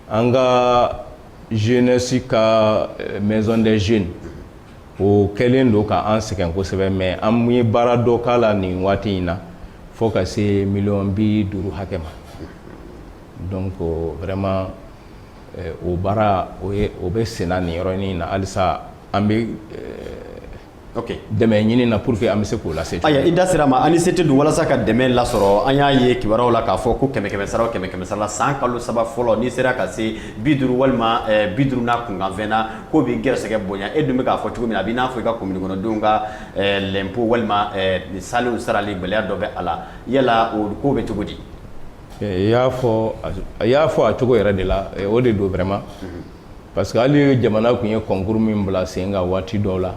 an ka jeunesse ka euh, maison des jeunes o kɛlen don ka an sɛgɛn kosɛbɛ mais an ye baara dɔ k'a la nin waati in na fo ka se miliyɔn bi duuru hakɛ ma donc vraiment euh, o baara o bɛ senna nin yɔrɔnin in na halisa an bɛ dɛmɛ ɲini na pour que an bɛ se k'o lase i da sera a ma ANICT dun walasa ka dɛmɛ lasɔrɔ an y'a ye kibaruyaw la k'a fɔ ko kɛmɛ kɛmɛ sara kɛmɛ kɛmɛ sara la san kalo saba fɔlɔ n'i sera ka se bi duuru walima bi duuru n'a kunkanfɛn na k'o b'i gɛrɛsɛgɛ bonya e dun bɛ k'a fɔ cogo min na a b'i n'a fɔ i ka komini kɔnɔdenw ka lɛnpo walima saalenw sarali gɛlɛya dɔ bɛ a la yala o ko bɛ cogo di i y'a fɔ a cogo yɛrɛ de la o de don vraiment parce que hali ye jamana tun ye kɔnkuru min bila sen kan waati dɔw la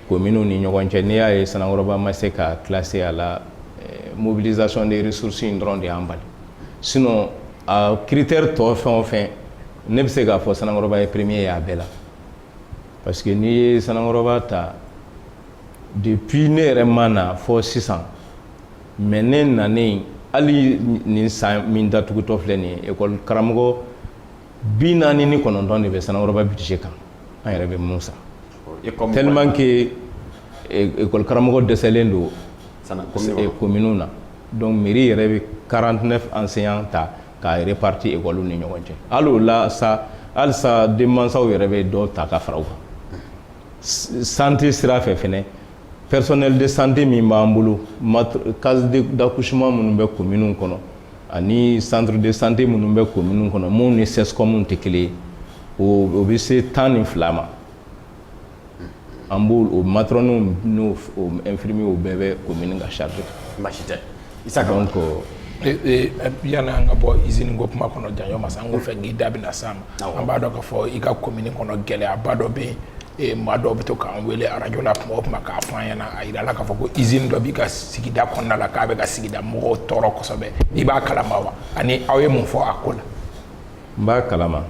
kominiw ni ɲɔgɔn cɛ n'i y'a ye sanankɔrɔba ma se ka classer a la eh, mobilisation des ressources in dɔrɔn de y'an bali sinon a critère tɔ fɛn o fɛn ne bɛ se k'a fɔ sanankɔrɔba ye premier ye a bɛɛ la parce que n'i ye sanankɔrɔba ta depuis ne yɛrɛ ma na fɔ sisan mais ne nanen hali nin san min datugutɔ filɛ nin ye ekɔli karamɔgɔ bi naani ni kɔnɔntɔn de bɛ sanankɔrɔba budget kan an yɛrɛ bɛ minnu sara tellement que école karamɔgɔ dɛsɛlen don kominiw na donc mairie yɛrɛ bɛ 49 enseignants ta k'a répartir école ni ɲɔgɔn cɛ hali o la sa halisa denmansaw yɛrɛ bɛ dɔ ta ka fara u kan santé sira fɛ fɛnɛ personnel de santé min b'an bolo case d'accouchement minnu bɛ kominiw kɔnɔ ani centre de santé minnu bɛ commune kɔnɔ minnu ni CSCOM tɛ kelen ye o bɛ se tan ni fila ma an b'o o matɔrɔniw n'o infirmiers bɛɛ bɛ commune ka charge kan. Baasi tɛ Isaka. Donc yani an ka bɔ usine ko kuma kɔnɔ janɲɔgɔn ma sa n ko fɛ k'i da bɛna s'a ma an b'a dɔn k'a fɔ i ka commune kɔnɔ gɛlɛyaba dɔ bɛ yen ee maa dɔw bɛ to k'an wele arajo la tuma o tuma k'a fɔ an ɲɛna a yira la k'a fɔ ko izini dɔ b'i ka sigida kɔnɔna la k'a bɛ ka sigida mɔgɔw tɔɔrɔ kosɛbɛ i b'a kalama wa ani aw ye mun fɔ a ko la n b'a kalama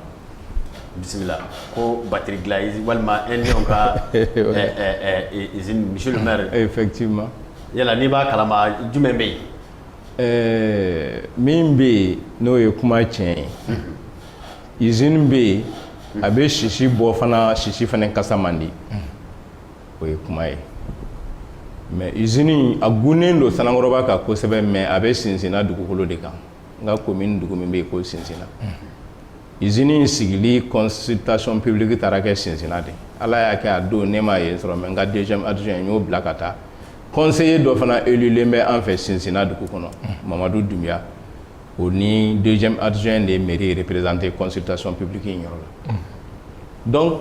bisimila ko batiri dilan izini walima Indiens ka izini monsieur le maire effectivement yala n'i b'a kalama jumɛn bɛ yen ɛɛ min bɛ yen n'o ye kuma tiɲɛ ye izini bɛ yen a bɛ sisi bɔ fana sisi fana kasa man di o ye kuma ye mais izini a gunnen don Sanankɔrɔba kan kosɛbɛ mais a bɛ sinsinna dugukolo de kan n ka commune dugu min bɛ yen ko sinsinna izini sigili consultation publique taara kɛ sinsinna de ala y'a kɛ a don ne ma ye sɔrɔ mais n ka deuxième adjoint n y'o bila ka taa conseiller dɔ fana elulen bɛ an fɛ sinsinna dugu kɔnɔ mamadu dunbiya o ni deuxième adjoint de ye mairie représenter consultation publique in yɔrɔ la donc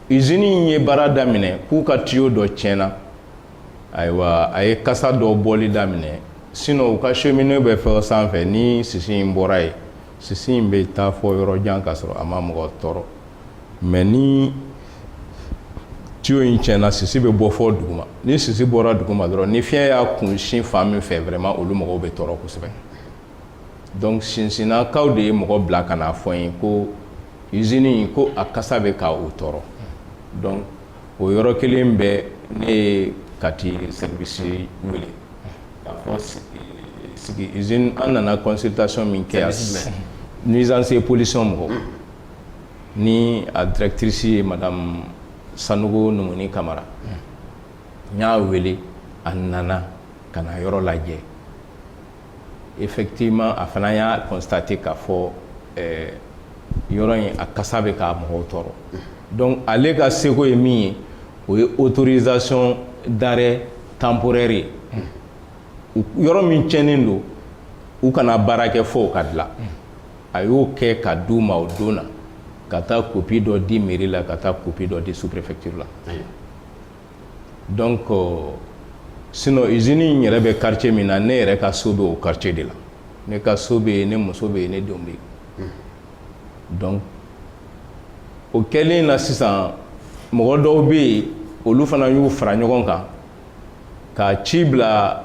usine in ye baara daminɛ k'u ka tuyau dɔ tiɲɛna ayiwa a ye kasa dɔ bɔli daminɛ sinon u ka cheminée bɛ fo sanfɛ ni sisi in bɔra yen sisi in bɛ taa fo yɔrɔ jan ka sɔrɔ a ma mɔgɔ tɔɔrɔ mais ni tuyau in tiɲɛna sisi bɛ bɔ fo duguma ni sisi bɔra duguma dɔrɔn ni fiɲɛ y'a kun sin fan min fɛ vraiment olu mɔgɔw bɛ tɔɔrɔ kosɛbɛ donc sinsinnakaw de ye mɔgɔ bila ka n'a fɔ n ye ko usine in ko a kasa bɛ ka u tɔɔrɔ donc o yɔrɔ kelen bɛɛ ne ye kati service wele k'a fɔ sigi usine an nana consultation min kɛ yan nuisance et pollution mɔgɔw ni a directrice ye madame Sanogo Numuni Kamara n y'a wele a nana ka na yɔrɔ lajɛ. effectivement a fana y'a constater k'a fɔ ɛɛ yɔrɔ in a kasa bɛ k'a mɔgɔw tɔɔrɔ donc ale ka seko ye min ye o ye autorisation d'arrêt temporaire ye yɔrɔ min tiɲɛnen don u kana baara kɛ fo o ka dilan a y'o kɛ k'a d'u ma o don na ka taa kopi dɔ di mairie la ka taa kopi dɔ di sous préfecture la donc sinon izini in yɛrɛ bɛ quartier min na ne yɛrɛ ka so bɛ o quartier de la ne ka so bɛ yen ne muso bɛ yen ne denw bɛ yen donc o kɛlen na sisan mɔgɔ dɔw bɛ yen olu fana y'u fara ɲɔgɔn kan ka ci bila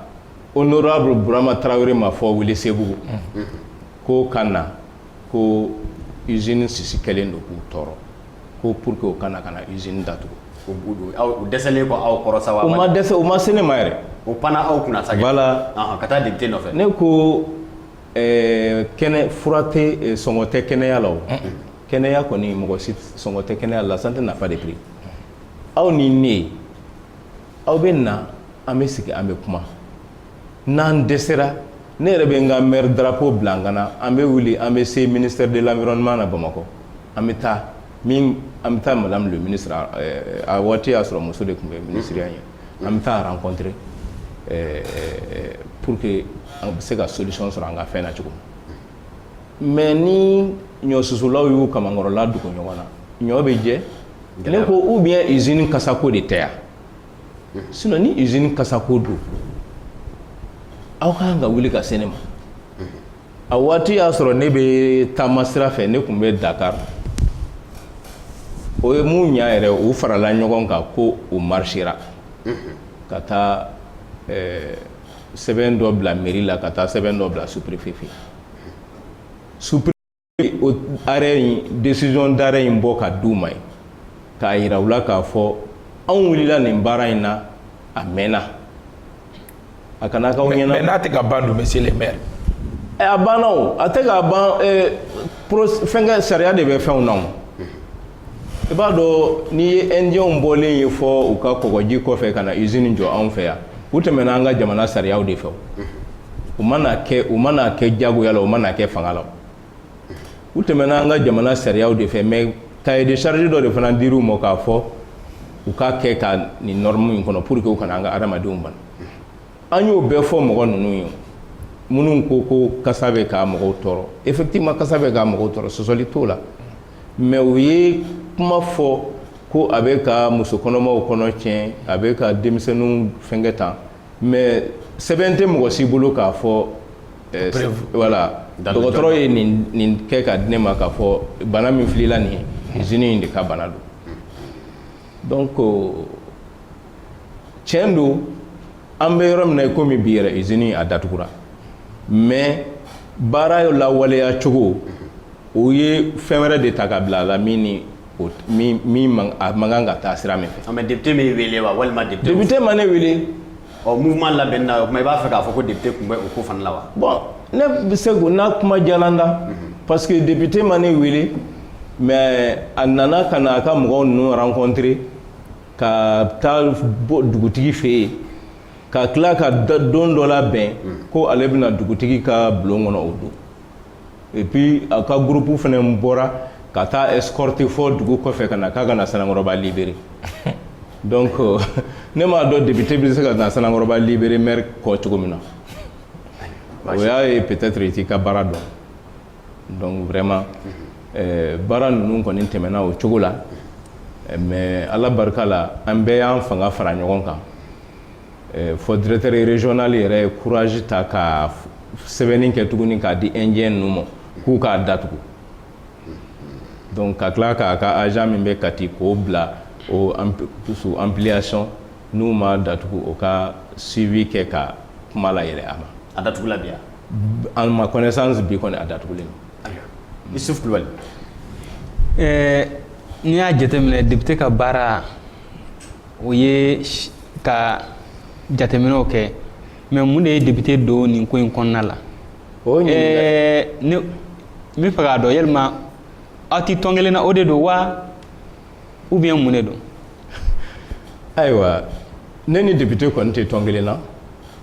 honorable burama tarawele ma fo Welesebugu k'o ka na ko usine sisi kɛlen don k'u tɔɔrɔ ko pour que u ka na ka na usine datugu dɛsɛlen kɔ aw kɔrɔ sa u ma dɛsɛ u ma se ne ma yɛrɛ u panna aw kunna sa voilà ka taa député nɔfɛ ne ko kɛnɛ fura tɛ sɔngɔ tɛ kɛnɛya la kɛnɛya kɔni mɔgɔ si sɔngɔ tɛ kɛnɛya la santé n'a pas de prix aw ni ne aw bɛ na an bɛ sigi an bɛ kuma n'an dɛsɛra ne yɛrɛ bɛ n ka maire drapeau bila n kan na an bɛ wuli an bɛ se ministère de l'environnement na bamakɔ an bɛ taa min an bɛ taa madame le ministre a waati y'a sɔrɔ muso de tun bɛ minisiriya ye an bɛ taa a rencontrer pour que an bɛ se ka solution sɔrɔ an ka fɛn na cogo mais ni ɲɔsusulaw y'u kamankɔrɔla dogo ɲɔgɔn na ɲɔ bɛ jɛ ne ko ou bien usine kasako de tɛ yan sinon ni usine kasako don aw ka kan ka wuli ka se ne ma a waati y'a sɔrɔ ne bɛ taama sira fɛ ne tun bɛ Dakar o ye mun ɲa yɛrɛ u farala ɲɔgɔn kan ko u marisera ka taa eh, sɛbɛn dɔ bila mairie la ka taa sɛbɛn dɔ bila sous-préfet fɛ o arrêt in décision d'arrêt in bɔ ka d'u ma ye k'a yira u la k'a fɔ anw wulila nin baara in na a mɛnna a kana k'aw ɲɛna mais n'a tɛ ka ban dun monsieur le maire eh, a banna o a tɛ ka ban eh, fɛnkɛ sariya de bɛ fɛnw na o i b'a dɔn n'i ye ɛndiyɛnw bɔlen ye fɔ u ka kɔgɔji kɔfɛ ka na usine jɔ anw fɛ yan u tɛmɛna an ka jamana sariyaw de fɛ u mana kɛ u mana kɛ jagoya la u mana kɛ fanga la u tɛmɛna an ka jamana sariyaw de fɛ mais cahier de charge dɔ de fana dir'u ma k'a fɔ u k'a kɛ ka nin norme in kɔnɔ pour que u kana an ka adamadenw bana an y'o bɛɛ fɔ mɔgɔ ninnu ye minnu ko ko kasa bɛ ka mɔgɔw tɔɔrɔ effectivement kasa bɛ ka mɔgɔw tɔɔrɔ sɔsɔli t'o la mais u ye kuma fɔ ko a bɛ ka muso kɔnɔmaw kɔnɔ tiɲɛ a bɛ ka denmisɛnninw fɛnkɛ tan mais sɛbɛn tɛ mɔgɔ si bolo k'a fɔ eh, voilà dɔgɔtɔrɔ ye nin kɛ ka di ne ma k'a fɔ bana min filila nin ye usine in de ka bana don donc tiɲɛ don an bɛ yɔrɔ min na i komi bi yɛrɛ usine a datugura mais baara lawaleya cogo o ye fɛn wɛrɛ de ta ka bila a la min ni o min min man a man kan ka taa sira min fɛ. mais député m'e wele wa walima député. député ma ne wele. ɔ mouvement labɛnni na o tuma i b'a fɛ k'a fɔ ko député tun bɛ o ko fana la wa. bon ne bɛ se k'o n'a kuma jalan da. Mhm. parce que député ma ne wele mais a nana ka na a ka mɔgɔw ninnu rencontrer ka taa dugutigi fɛ yen. ka tila ka don dɔ labɛn mhm. ko ale bɛ na dugutigi ka bulon kɔnɔ o don et puis a ka groupe fana bɔra ka taa escorte fɔ dugu kɔfɛ ka na k'a ka na sanankɔrɔba libéré donc euh, ne m'a dɔn député bɛ se ka na sanankɔrɔba libéré maire kɔ cogo min na o y'a ye peut-être i t'i ka baara dɔn donc vraiment euh, baara ninnu kɔni tɛmɛna o cogo la mais ala barika la an bɛɛ y'an fanga fara ɲɔgɔn kan fɔ directeur régional yɛrɛ ye courage ta ka sɛbɛnni kɛ tuguni k'a di indien ninnu ma k'u k'a datugu donc ka tila k'a ka agent min bɛ kati k'o bila o sous ampliation n'u m'a datugu o ka suivi kɛ ka kuma layɛlɛ a ma a datugula en ma connaissance bi kɔni a datugulen don yusufu kulubali ɛɛ n'i y'a jateminɛ député ka baara o ye ka jateminɛw kɛ mais mun de ye député don nin ko in kɔnɔna la ne b'a fɛ k'a dɔn yalima aw tɛ tɔn kelen na o de don wa ou bien mun de don ayiwa ne ni député kɔni tɛ tɔn kelen na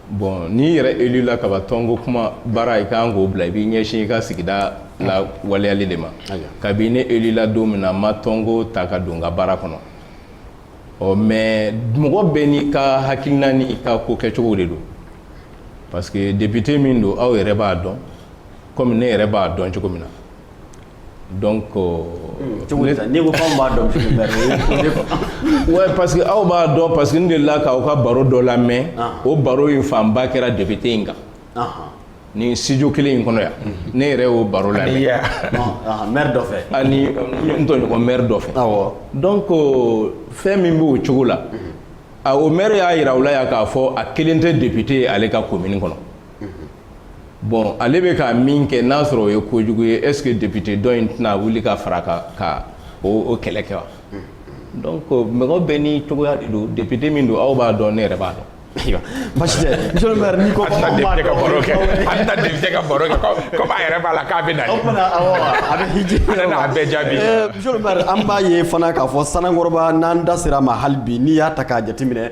Bɔn n'i yɛrɛ élu la kaban tɔnko kuma baara i ka kan k'o bila i b'i ɲɛsin i ka sigida la waleyali de ma kabi ne élu la don min na n ma tɔnko ta ka don n ka baara kɔnɔ ɔ mais mɔgɔ bɛɛ n'i ka hakilina ni i ka ko kɛcogo de don parce que député min don aw yɛrɛ b'a dɔn kɔmi ne yɛrɛ b'a dɔn cogo min na donc cogo n'i ko anw b'a dɔn wa parce que aw b'a dɔn parce que n delila k'aw ka baro dɔ lamɛn o baro in fanba kɛra député in kan nin studio kelen in kɔnɔ yan ne yɛrɛ y'o baro lamɛn maire dɔ fɛ ani n tɔɲɔgɔn maire dɔ fɛ awɔ donc fɛn min b'o cogo la o maire y'a yira aw la yan k'a fɔ a kelen tɛ député ye ale ka commune kɔnɔ bɔn ale bɛ ka min kɛ n'a sɔrɔ o ye kojugu ye est ce que député dɔ in tɛna wuli ka fara a kan ka o kɛlɛ kɛ wa donc mɔgɔ bɛɛ n'i cogoya de don député min don aw b'a dɔn ne yɛrɛ b'a dɔn basi tɛ monsieur le maire n'i ko ko an b'a ka baro kɛ an tɛna député ka baro kɛ comme a yɛrɛ b'a la k'a bɛ na o tuma na awɔ a bɛ hiji a bɛɛ jaabi eh, monsieur le maire an b'a ye fana k'a fɔ sanankɔrɔba n'an da sera a ma hali bi n'i y'a ta k'a jateminɛ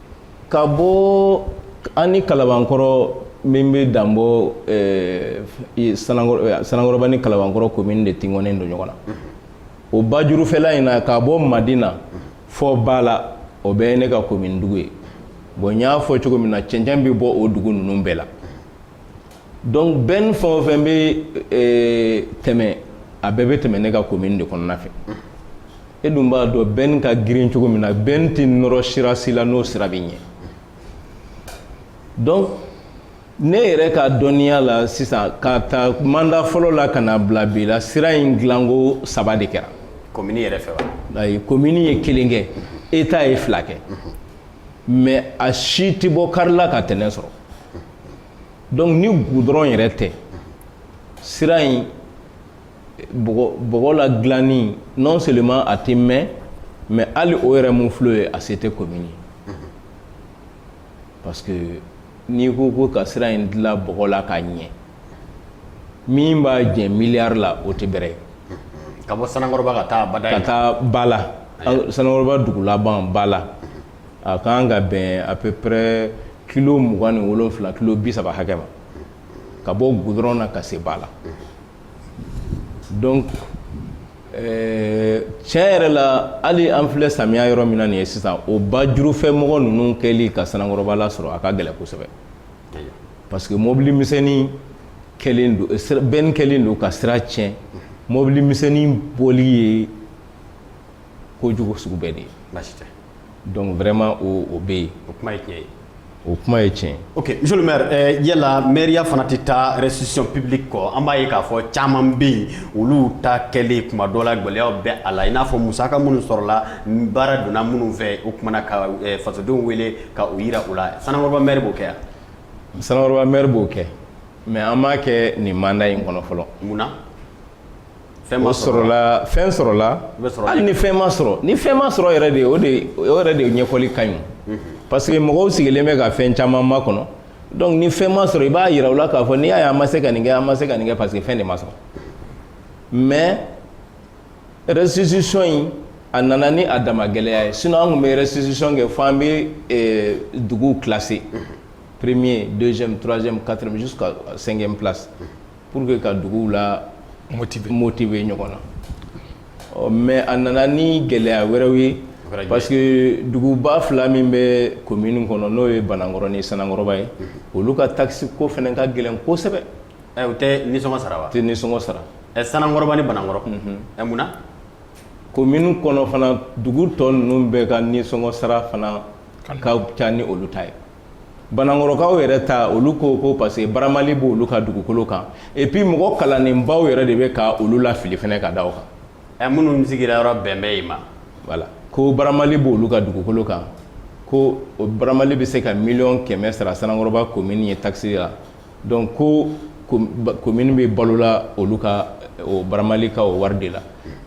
ka bɔ an ni kalabankɔrɔ min bɛ danbɔ eh, sanankɔrɔba ni kalabankɔrɔ komini de tugunnen don ɲɔgɔn na o bajurufɛla in na ka bɔ madina fɔ bala o bɛɛ ye ne ka komini dugu ye bon n y'a fɔ cogo min na cɛncɛn bɛ bɔ o dugu ninnu bɛɛ la donc bɛn fɛn o fɛn bɛ tɛmɛ a bɛɛ bɛ tɛmɛ ne ka commune de kɔnɔna fɛ e dun b'a dɔn bɛn ka girin cogo min na bɛn tɛ nɔrɔ sira si la n'o sira bɛ ɲɛ donc ne yɛrɛ ka dɔnniya la sisan ka ta mandat fɔlɔ la ka na bila bi la sira in dilanko saba de kɛra commune yɛrɛ fɛ wa ayi commune ye kelen kɛ état ye fila kɛ mais a si tɛ bɔ kari la ka tɛnɛn sɔrɔ donc ni goudron yɛrɛ tɛ sira in bɔgɔ la dilanni non seulement a tɛ mɛn mais hali o yɛrɛ mun filɛ ye a se tɛ commune ye parce que n'i ko ko ka sira in dilan bɔgɔ la k'a ɲɛ min b'a jɛ miliyari la o tɛ bɛrɛ ye ka bɔ Sanankɔrɔba ka taa ka taa Bala Sanankɔrɔba dugu laban Bala a ka kan ka bɛn à peu près kilo mugan ni wolonfila kilo bi saba hakɛ ma ka bɔ goudron na ka se Bala donc euh, tiɲɛ yɛrɛ la hali an filɛ samiya yɔrɔ min na nin ye sisan o ba jurufɛ mɔgɔ ninnu kɛli ka sanankɔrɔba lasɔrɔ a ka gɛlɛn kosɛbɛ parce que mobili misɛnnin kɛlen don euh, bɛnni kɛlen don ka sira tiɲɛ mobili misɛnnin bɔli ye kojugu sugu bɛɛ de ye Donc vraiment o o bɛ yen. O kuma ye tiɲɛ ye. O kuma ye tiɲɛ ye. Ok monsieur le maire ɛɛ yala mairia fana tɛ taa restitution publique kɔ an b'a ye k'a fɔ caman bɛ yen olu ta kɛlen tuma dɔ la gɛlɛyaw bɛ a la i n'a fɔ musaka minnu sɔrɔla baara donna minnu fɛ o tuma na ka fasodenw wele ka u yira u la Sanankɔrɔba maire b'o kɛ wa? Sanankɔrɔba maire b'o kɛ mais an m'a kɛ nin mandat in kɔnɔ fɔlɔ. Mun na? fɛn ma sɔrɔ wa fɛn sɔrɔla hali ni fɛn ma sɔrɔ ni fɛn ma sɔrɔ yɛrɛ de o de o yɛrɛ de ɲɛfɔli ka ɲi mhm. parce que mɔgɔw sigilen bɛ ka fɛn caman makɔnɔ donc ni fɛn ma sɔrɔ i b'a yira u la k'a fɔ n'i y'a ye an ma se ka nin kɛ an ma se ka nin kɛ parce que fɛn de ma sɔrɔ mais restitution in a nana ni a dama gɛlɛya ye sinon an tun bɛ restitution kɛ fo an bɛ eh, duguw classer mhm. premier deuxième troisième quatrième jusqu'à cinquième place. Mhm. pour que ka duguw la moti motiver ɲɔgɔn na ɔ mais a nana ni gɛlɛya wɛrɛw ye parce que duguba fila min bɛ commune kɔnɔ n'o ye banankɔrɔ ni Sanankɔrɔba ye olu ka takisi ko fana ka gɛlɛn kosɛbɛ u tɛ nisɔngɔ sara wa tɛ nisɔngɔ sara ɛ Sanankɔrɔba ni banankɔrɔ ɛ mun commune kɔnɔ fana dugu tɔ ninnu bɛɛ ka nisɔngɔ sara fana ka ca ni olu ta ye Banankɔrɔkaw yɛrɛ ta olu ko ko parce que baramali b' olu ka dugukolo kan et puis mɔgɔ kalannenbaw yɛrɛ de bɛ ka olu lafili fana ka da o kan minnu sigira yɔrɔ bɛnbɛn ma voilà ko baramali b' olu ka dugukolo kan ko o baramali bɛ se ka miliyɔn kɛmɛ sara Sanankɔrɔba komini ye takisi la donc ko komini bɛ balola olu ka baramali ka o wari de la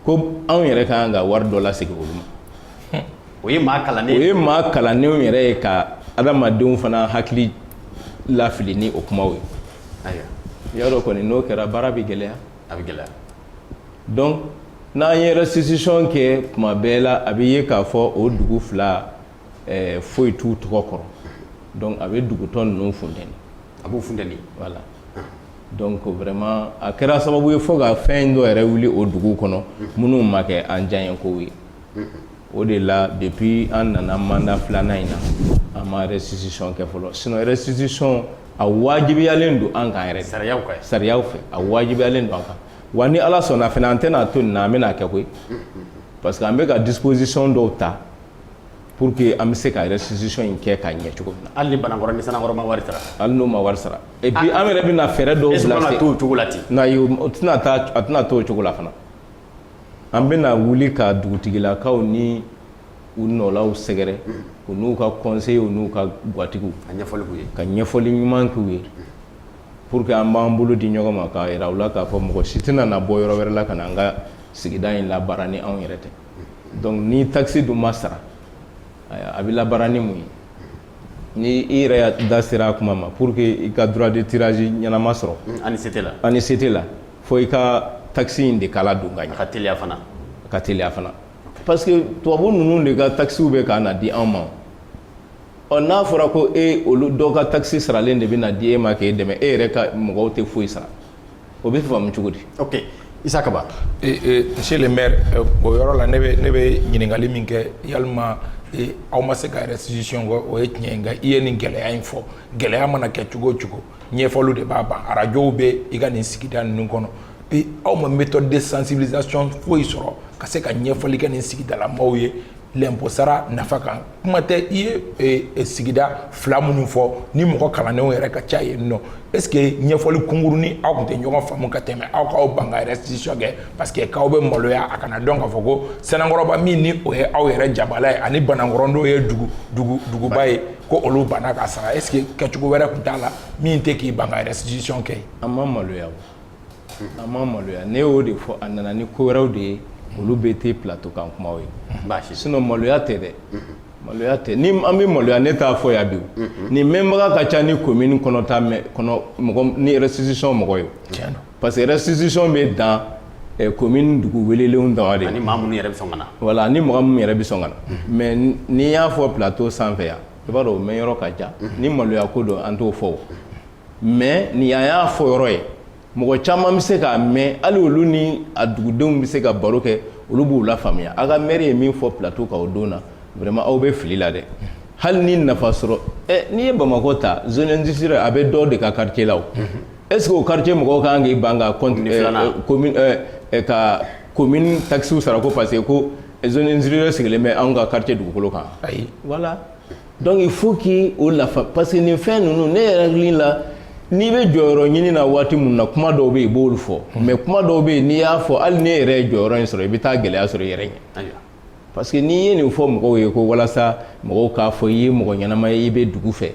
ko anw yɛrɛ ka kan ka wari dɔ lasegin olu ma o ye maa kalannen o ye maa kalannenw yɛrɛ ye ka adamadenw fana hakili lafili ni o kumaw ye ayiwa i y'a dɔn kɔni n'o kɛra baara bɛ gɛlɛya a bɛ gɛlɛya donc n'an ye restitution kɛ tuma bɛɛ la a bɛ ye k'a fɔ o dugu fila eh, foyi t'u tɔgɔ kɔrɔ donc a bɛ dugu tɔ ninnu funteni a b'u funteni voilà donc vraiment a kɛra sababu ye fo ka fɛn dɔ yɛrɛ wuli o dugu kɔnɔ minnu ma kɛ an diyaɲɛkow ye o de la depuis an nana manda filanan in na an ma restitution kɛ fɔlɔ sinon restitution a wajibiyalen don an kan yɛrɛ sariyaw kan sariyaw fɛ a wajibiyalen don an kan wa ni ala sɔnna fana an tɛna to nin na an bɛna kɛ koyi parce que an bɛ ka disposition dɔw ta pour que an bɛ se ka restitution in kɛ ka ɲɛ cogo min na hali ni banankɔrɔ ni sanankɔrɔba ma wari sara hali n'o ma wari sara et puis an yɛrɛ bɛna fɛɛrɛ dɔw bila sen na o tɛna to o tɛna to o cogo la fana an bɛna wuli ka dugutigilakaw ni u nɔlaw sɛgɛrɛ u n'u ka conseillers u n'u ka gatigiw ka ɲɛfɔli ɲuman k'u ye pour que an b'an bolo di ɲɔgɔn ma k'a jira u la k'a fɔ mɔgɔ si tɛna na bɔ yɔrɔ wɛrɛ la ka na an ka sigida in labaara ni anw yɛrɛ tɛ donc ni takisi dun ma sara a bɛ labaara ni mun ye ni i yɛrɛ da sera a kuma ma pour que i ka droit de tirage ɲɛnama sɔrɔ an ni se tɛ la fo i ka takisi in de kala don ka ɲɛ ka teliya fana ka teliya fana parce que tubabu ninnu de ka takisiw bɛ ka na di anw ma ɔ n'a fɔra ko e olu dɔ ka takisi saralen de bɛ na di e ma k'e dɛmɛ e yɛrɛ ka mɔgɔw tɛ foyi sara o bɛ faamu cogo di ok isa kaba monsieur le maire euh, o yɔrɔ la ne bɛ ne bɛ ɲininkali min kɛ yalima aw ma se ka restitution kɛ o ye tiɲɛ ye nka i ye nin gɛlɛya in fɔ gɛlɛya mana kɛ cogo o cogo ɲɛfɔliw de b'a ban arajow bɛ i ka nin sigida ninnu kɔnɔ bi aw ma méthode de sensibilisation foyi sɔrɔ ka se ka ɲɛfɔli kɛ nin sigidala maaw ye lɛnpo sara nafa kan kuma tɛ i ye e, e, sigida fila minnu fɔ ni mɔgɔ kalannenw yɛrɛ ka ca yen nɔ est ce que ɲɛfɔli kunkurunnin aw tun tɛ ɲɔgɔn faamu ka tɛmɛ aw k'aw ban ka restitution kɛ parce que k'aw bɛ maloya a kana dɔn k'a fɔ ko sanankɔrɔba min ni o ye aw yɛrɛ jabala ye ani banankɔrɔ dun ye dugu dugu duguba ye ko olu banna ka sara est ce que kɛcogo wɛrɛ tun t'a la min tɛ k'i ban ka restitution kɛ an ma maloya o an ma maloya ne y'o de fɔ a nana ni ko wɛrɛw de ye olu bɛɛ tɛ plateau kan kumaw ye sinon maloya tɛ dɛ maloya tɛ ni an bɛ maloya ne t'a fɔ yan bi nin mɛnbaga ka ca ni commune kɔnɔ ta kɔnɔ mɔgɔ ni restitution mɔgɔ ye tiɲɛ don parce que restitution bɛ dan eh, commune dugu welelenw dama de ani maa minnu yɛrɛ bɛ sɔn ka na voilà ni mɔgɔ min yɛrɛ bɛ sɔn ka na mais n'i y'a fɔ plateau sanfɛ yan i b'a dɔn o mɛn yɔrɔ ka jan ni maloya ko don an t'o fɔ o mais ni an y'a fɔ yɔrɔ ye mɔgɔ caman bɛ se k'a mɛn hali olu ni a dugudenw bɛ se ka baro kɛ olu b'u lafaamuya a ka maire ye min fɔ plateau kan o don na vraiment aw bɛ fili la dɛ hali ni nafa sɔrɔ ɛ n'i ye Bamakɔ ta zone industrielle a bɛ dɔ de ka quartier la o est ce que o quartier mɔgɔ kan k'i ban ka ka commune taxe sara ko parce que ko zone industrielle sigilen bɛ anw ka quartier dugukolo kan ayi voilà donc faut que o la parce que nin fɛn ninnu ne yɛrɛ la n'i bɛ jɔyɔrɔ ɲinin na waati min na kuma dɔw bɛ yen i b'olu fɔ mais kuma dɔw bɛ yen n'i y'a fɔ hali n'e yɛrɛ ye jɔyɔrɔ in sɔrɔ i bɛ taa gɛlɛya sɔrɔ i yɛrɛ ɲɛ parce que n'i ye nin fɔ mɔgɔw ye ko walasa mɔgɔw k'a fɔ i ye mɔgɔ ɲɛnama ye i bɛ dugu fɛ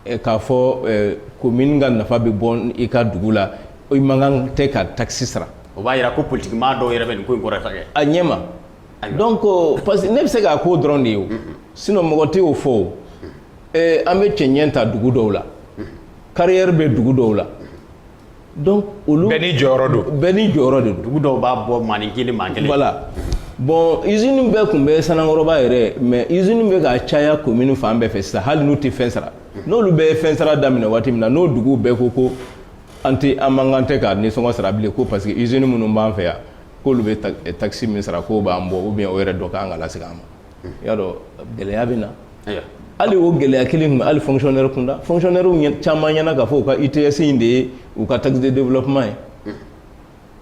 k'a fɔ commune ka nafa bɛ bɔ i ka dugu la i man kan tɛ ka taxe sara o b'a jira ko politigimaa dɔw yɛrɛ bɛ nin ko in kɔrɔta kɛ a ɲɛ ma donc parce que ne bɛ se k'a ko dɔrɔn de ye o sinon mɔgɔ tɛ o fɔ o an bɛ cɛnɲɛ ta dugu dɔw la carrière bɛ dugu dɔw la donc olu bɛɛ ni jɔyɔrɔ don bɛɛ ni jɔyɔrɔ de don dugu dɔw b'a bɔ maa ni kelen maa kelen voilà bon usine bɛɛ tun bɛ Sanankɔrɔba yɛrɛ mais usine bɛ ka caya commune fan bɛɛ fɛ sisan hali n'u tɛ fɛn sara n'olu bɛ fɛn sara daminɛ waati min na n'o duguw bɛɛ ko ko an tɛ an man kan tɛ ka nisɔngɔ sara bilen ko parce que usine minnu b'an fɛ yan k'olu bɛ taxe min sara k'o b'an bɔ ou bien o yɛrɛ dɔ kan ka lasegin an ma i y'a dɔn gɛlɛya bɛ na hali o gɛlɛya kelen tun bɛ hali fonctionnaire kunda fonctionnaire caman ɲɛna k'a fɔ u ka ITS in de ye u ka taxe de développement ye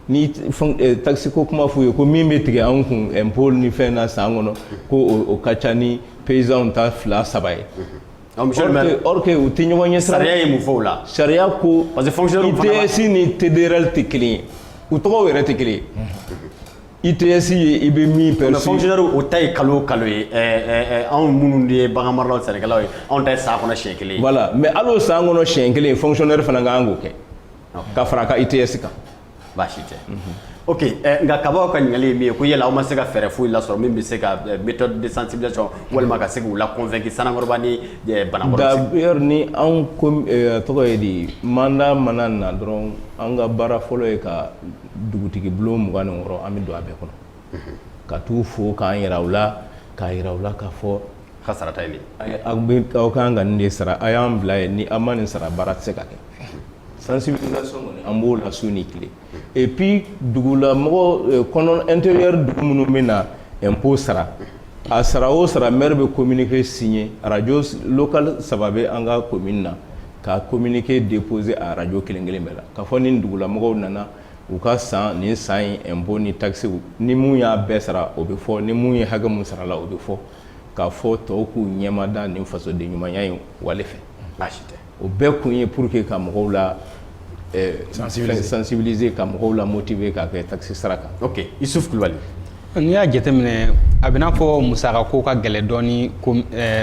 ni taxe ko kuma f'u ye ko min bɛ tigɛ anw kun impôt ni fɛn na san kɔnɔ ko o ka ca ni paysanw ta fila saba ye. or que u tɛ ɲɔgɔn ɲɛ sira sariya ye mun fɔ o la sariya ko parce que fonctionnaire fana ITS ni TDRL tɛ kelen ye u tɔgɔw yɛrɛ tɛ kelen ye. i ITS ye i bɛ min perçu. fonctionnaire o ta ye kalo o kalo ye ɛɛ anw minnu ye bagan maralaw sɛnɛkɛlaw ye anw ta ye san kɔnɔ siɲɛ kelen ye. voilà mais hali o san kɔnɔ siɲɛ kelen fonctionnaire fana ka kan k'o kɛ ka fara a ka ITS kan. baasi tɛ. ok ɛɛ nka kabaw ka ɲininkali ye min ye ko yala aw ma se ka fɛɛrɛ foyi lasɔrɔ min bɛ se ka méthode de sensibilisation walima ka se k'u la convaincu Sanankɔrɔba ni Banankɔrɔ. d'ailleurs ni anw ko tɔgɔ ye di mandat mana na dɔrɔn an ka baara fɔlɔ ye ka dugutigi bulon mugan ni wɔɔrɔ an bɛ don a bɛɛ kɔnɔ ka t'u fo k'an yira u la k'a yira u la k'a fɔ ka sarata ye aw bɛ aw ka kan ka nin de sara a y'an bila ye ni an ma nin sara baara tɛ se ka kɛ sensibilisation kɔni an b'o la su ni tile et puis dugulamɔgɔ kɔnɔ intérieur dugu minnu bɛ na impôt sara a sara o sara maire bɛ communiqué signé radio local saba bɛ an ka commune na ka communiqué déposé a radio kelen kelen bɛɛ la k'a fɔ nin dugulamɔgɔw nana u ka san nin san in impôt ni taxes ni mun y'a bɛɛ sara o bɛ fɔ ni mun ye hakɛ mun sarala o bɛ fɔ k'a fɔ tɔw k'u ɲɛmada nin fasoden ɲumanya in wale fɛ baasi tɛ o bɛɛ kun ye pour que ka mɔgɔw lasensibiliser ka mɔgɔw lamotiver k'a kɛ taxe sara kan isuf kulubali n'i y'a jateminɛ a bɛn'a fɔ musaka ko ka gɛlɛn dɔɔni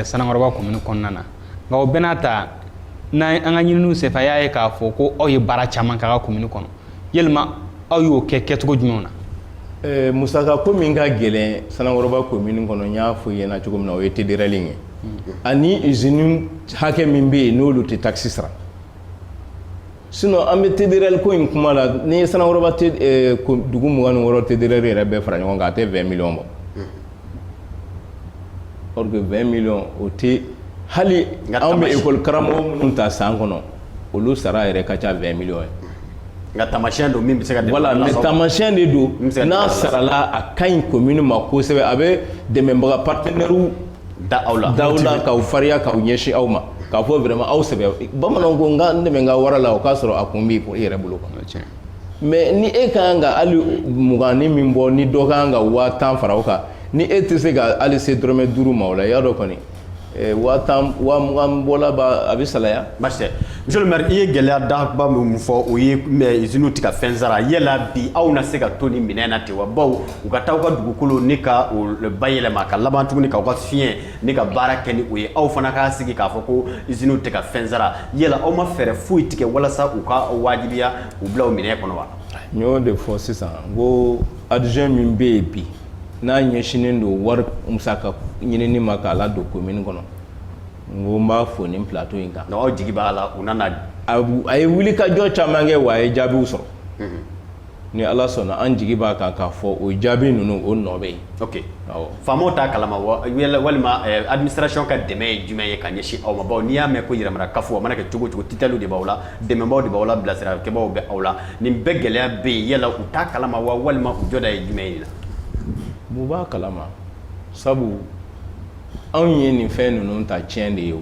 sanankɔrɔba commune kɔnɔna na nka o bɛɛ n'a ta an ka ɲininiw senfɛ an y'a ye k'a fɔ ko aw ye baara caman k'aw ka commune kɔnɔ yala aw y'o kɛ kɛcogo jumɛnw na musaka ko min ka gɛlɛn sanankɔrɔba commune kɔnɔ n y'a fɔ i ɲɛna cogo min na o ye TDRL ye ani usine hakɛ min bɛ yen n'olu tɛ taxe sara sinon an bɛ TDRL ko in kuma la n'i ye sanankɔrɔba dugu mugan ni wɔɔrɔ TDRL yɛrɛ bɛɛ fara ɲɔgɔn kan a tɛ vingt millions bɔ or que vingt millions o tɛ hali anw bɛ école karamɔgɔ minnu ta san kɔnɔ olu sara yɛrɛ ka ca vingt millions ye nka taamasiyɛn don min bɛ se ka taamasiyɛn de don n'a sarala a ka ɲi commune ma kosɛbɛ a bɛ dɛmɛbaga partenaires da aw la k'aw fariya k'aw ɲɛsin aw ma k'a fɔ vraiment aw sɛbɛ bamananw ko n ka n dɛmɛ n ka wara la o k'a sɔrɔ a kun b'i yɛrɛ bolo quoi mais ni e ka kan ka hali mugan ni min bɔ ni dɔ ka kan ka waa tan fara o kan ni e tɛ se ka hali se dɔrɔmɛ duuru ma o la i y'a dɔn kɔni Eh, waa tan waa mugan bɔla ba a bɛ salaya. baasi tɛ monsieur le maire i ye gɛlɛya danba min fɔ o ye usine tɛ ka fɛn sara yala bi aw na se ka to nin minɛn na ten wa bawo u ka taa u ka dugukolo ni ka bayɛlɛma ka laban tuguni k'aw ka fiɲɛ ni ka baara kɛ ni o ye aw fana k'a sigi k'a fɔ ko usine tɛ ka fɛn sara yala aw ma fɛɛrɛ foyi tigɛ walasa u ka wajibiya u bila o minɛ kɔnɔ wa n y'o de fɔ sisan n ko adjoint min bɛ yen bi n'a ɲɛsinnen don wari musaka ɲinini ma k'a ladon commune kɔnɔ n ko n b'a fo nin plateau in kan aw jigi b'a la u nana a ye wulikajɔ caman kɛ wa a ye jaabiw sɔrɔ ni ala sɔnna an jigi b'a kan k'a fɔ o jaabi ninnu o nɔ bɛ yen ok faamaw t'a kalama walima eh, administration ka dɛmɛ ye jumɛn ye ka ɲɛsin aw ma bawo n'i y'a mɛn ko yɛrɛmara kafo a mana kɛ cogo o cogo titɛliw de b'aw la dɛmɛbaw de b'aw la bilasiralikɛbaw bɛ aw la nin bɛɛ gɛlɛya bɛ yen yala u t'a kalama wa walima u jɔda ye jumɛn ye nin na u b'a kalama sabu anw ye nin fɛn ninnu ta tiɲɛ de ye o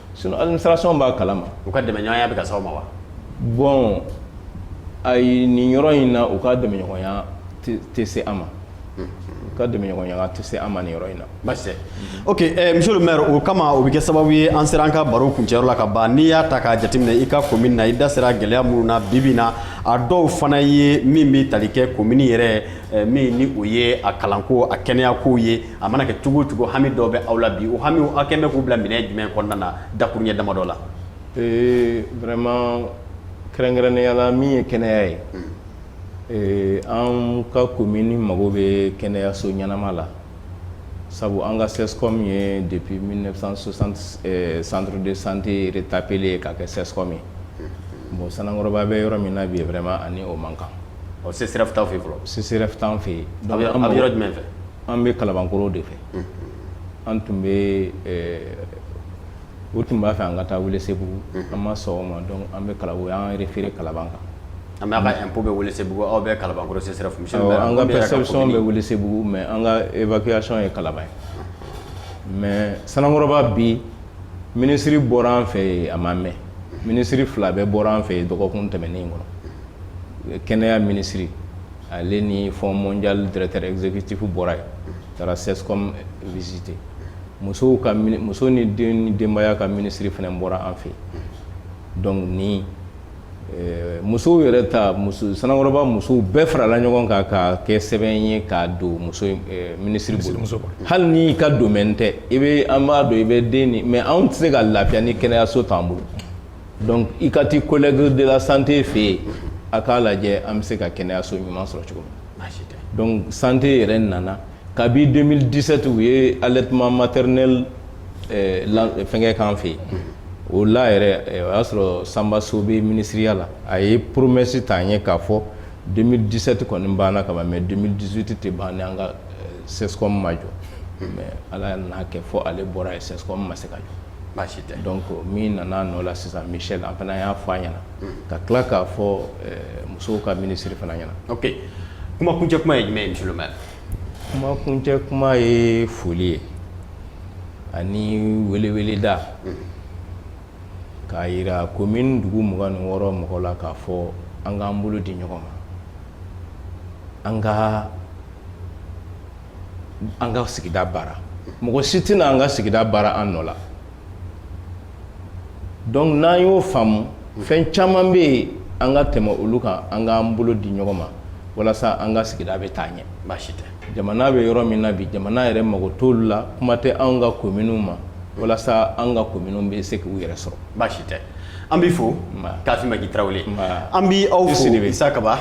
Sinon administration b'a kalama, u ka dɛmɛɲɔgɔnya bɛ ka s'aw ma wa? bon ayi nin yɔrɔ in na u ka dɛmɛɲɔgɔnya tɛ se an ma, unhun, u ka dɛmɛɲɔgɔnya tɛ se an ma nin yɔrɔ in na, basi tɛ, ok ɛɛ monsieur le maire o kama o bɛ kɛ sababu ye an sera an ka baro kuncɛ yɔrɔ la ka ban, n'i y'a ta k'a jateminɛ i ka commune na i da sera gɛlɛya minnu na bi bi in na a dɔw fana ye min bɛ tali kɛ commune yɛrɛ min ni o ye a kalanko a kɛnɛyakow ye. a mana kɛ cogo o cogo hami dɔw bɛ aw la bi o hamiw aw kɛn bɛ k'u bila minɛn jumɛn kɔnɔna na dakuruɲɛ damadɔ la ee vraiment kɛrɛnkɛrɛnnenya la min ye kɛnɛya ye hmm. ee an ka komini mago bɛ kɛnɛyaso ɲɛnama la sabu an ka CSCOM ye depuis 1960 eh, centre de santé retapelen ye ka kɛ CSCOM ye hmm. bon Sanankɔrɔba bɛ yɔrɔ min na bi vraiment a ni o man kan ɔ CSRéf t'aw fɛ yen fɔlɔ CSRéf t'an fɛ yen donc aw bɛ yɔrɔ jumɛn fɛ An bɛ kalakɔrɔ de fɛ an tun bɛ u tun b'a fɛ an ka taa wuli segu an ma sɔn ma dɔn an bɛ kala an yɛrɛ feere kala kan an bɛ bɛ wuli segu aw bɛ kala bɛ segu mɛ an ka ebayasɔn ye kala ye mɛ sankɔrɔba bi minisiriri bɔra an fɛ yen a ma mɛ minisiriri fila bɛ bɔra an fɛ yen dɔgɔkun tɛmɛnen in kɔnɔ kɛnɛyaya minisiriri Ale ni Fonds mondial directeur exécutif bɔra yen taara CSCOM visiter musow ka muso ni den ni denbaya ka minisiri fana bɔra an fɛ donc ni musow yɛrɛ ta Sanankɔrɔba musow bɛɛ farala ɲɔgɔn kan k'a kɛ sɛbɛn ye k'a don muso minisiri bolo hali n'i ka domaine tɛ i bɛ an b'a dɔn i bɛ den mais anw tɛ se ka lafiya ni kɛnɛyaso t'an bolo donc i ka t'i collègue de la santé fɛ yen a k'a lajɛ an bɛ se ka kɛnɛyaso ɲuman sɔrɔ cogo min donc santé yɛrɛ nana kabi 2017 u ye allaitement maternel fɛnkɛ k'an fɛ yen o la yɛrɛ o y'a sɔrɔ Sanba So bɛ minisiriya la a ye poromesi ta an ye k'a fɔ 2017 kɔni banna ka ban mais 2018 tɛ ban ni an ka CSCOM ma jɔ mais Ala y'a kɛ fɔ ale bɔra yen CSCOM ma se ka jɔ baasi tɛ donc min nana nɔ la sisan Michel an fana y'a fɔ a ɲɛna ka tila k'a fɔ musow ka ministre fana ɲɛna ok kuma kuncɛ kuma ye jumɛn ye monsieur le maire kuma kuncɛ kuma ye foli ye ani weleweleda k'a yira commune dugu mugan ni wɔɔrɔ mɔgɔw la k'a fɔ an k'an bolo di ɲɔgɔn ma an ka an ka sigida baara mɔgɔ si tɛna an ka sigida baara an nɔ la donc n'an y'o faamu fɛn caman bɛ yen an ka tɛmɛ olu kan an k'an bolo di ɲɔgɔn ma walasa an ka sigida bɛ taa ɲɛ baasi tɛ jamana bɛ yɔrɔ min na bi jamana yɛrɛ mago t'olu la kuma tɛ anw ka kominiw ma walasa an ka kominiw bɛ se k'u yɛrɛ sɔrɔ baasi tɛ An b'i fo kafi maki tarawele an b'aw fo isa kaba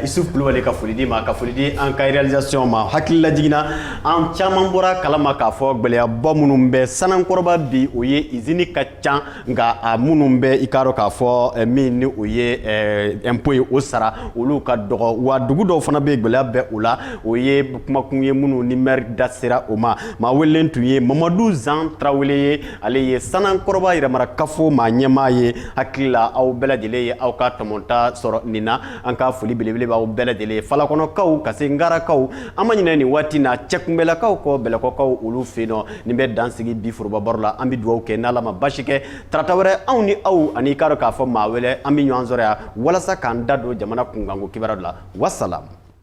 isuf kulubali ka foli di ma ka foli di an ka réalisation ma hakili lajigin na an caman bɔra kalama k'a fɔ gwɛlɛyaba minnu bɛ sanankɔrɔba bi o ye usine ka ca nka a minnu bɛ i k'a dɔn k'a fɔ min ni o ye impôt ye o sara olu ka dɔgɔ wa dugu dɔw fana bɛ gwɛlɛya bɛ o la o ye kumakun ye minnu ni maire da sera o ma maa welelen tun ye mamadu zan tarawele ye ale ye sanankɔrɔba yɛrɛmarakafo maa ɲɛmaa ye hakili la aw bɛɛ lajɛlen ye aw ka tɔmɔta sɔrɔ nin na an ka foli belebele b'aw bɛɛ lajɛlen ye falakɔnɔkaw ka se ngarakaw an ma ɲinɛ nin waati na cɛkunbɛlakaw kɔ bɛlɛkɔkaw olu fɛ yen nɔ nin bɛ dan sigi bi foroba baro la an bɛ dugawu kɛ n'ala ma baasi kɛ tarata wɛrɛ anw ni aw ani i k'a dɔn k'a fɔ maa wɛrɛ an bɛ ɲɔgɔn sɔrɔ yan walasa k'an da don jamana kunkanko kibaruya la wasalamu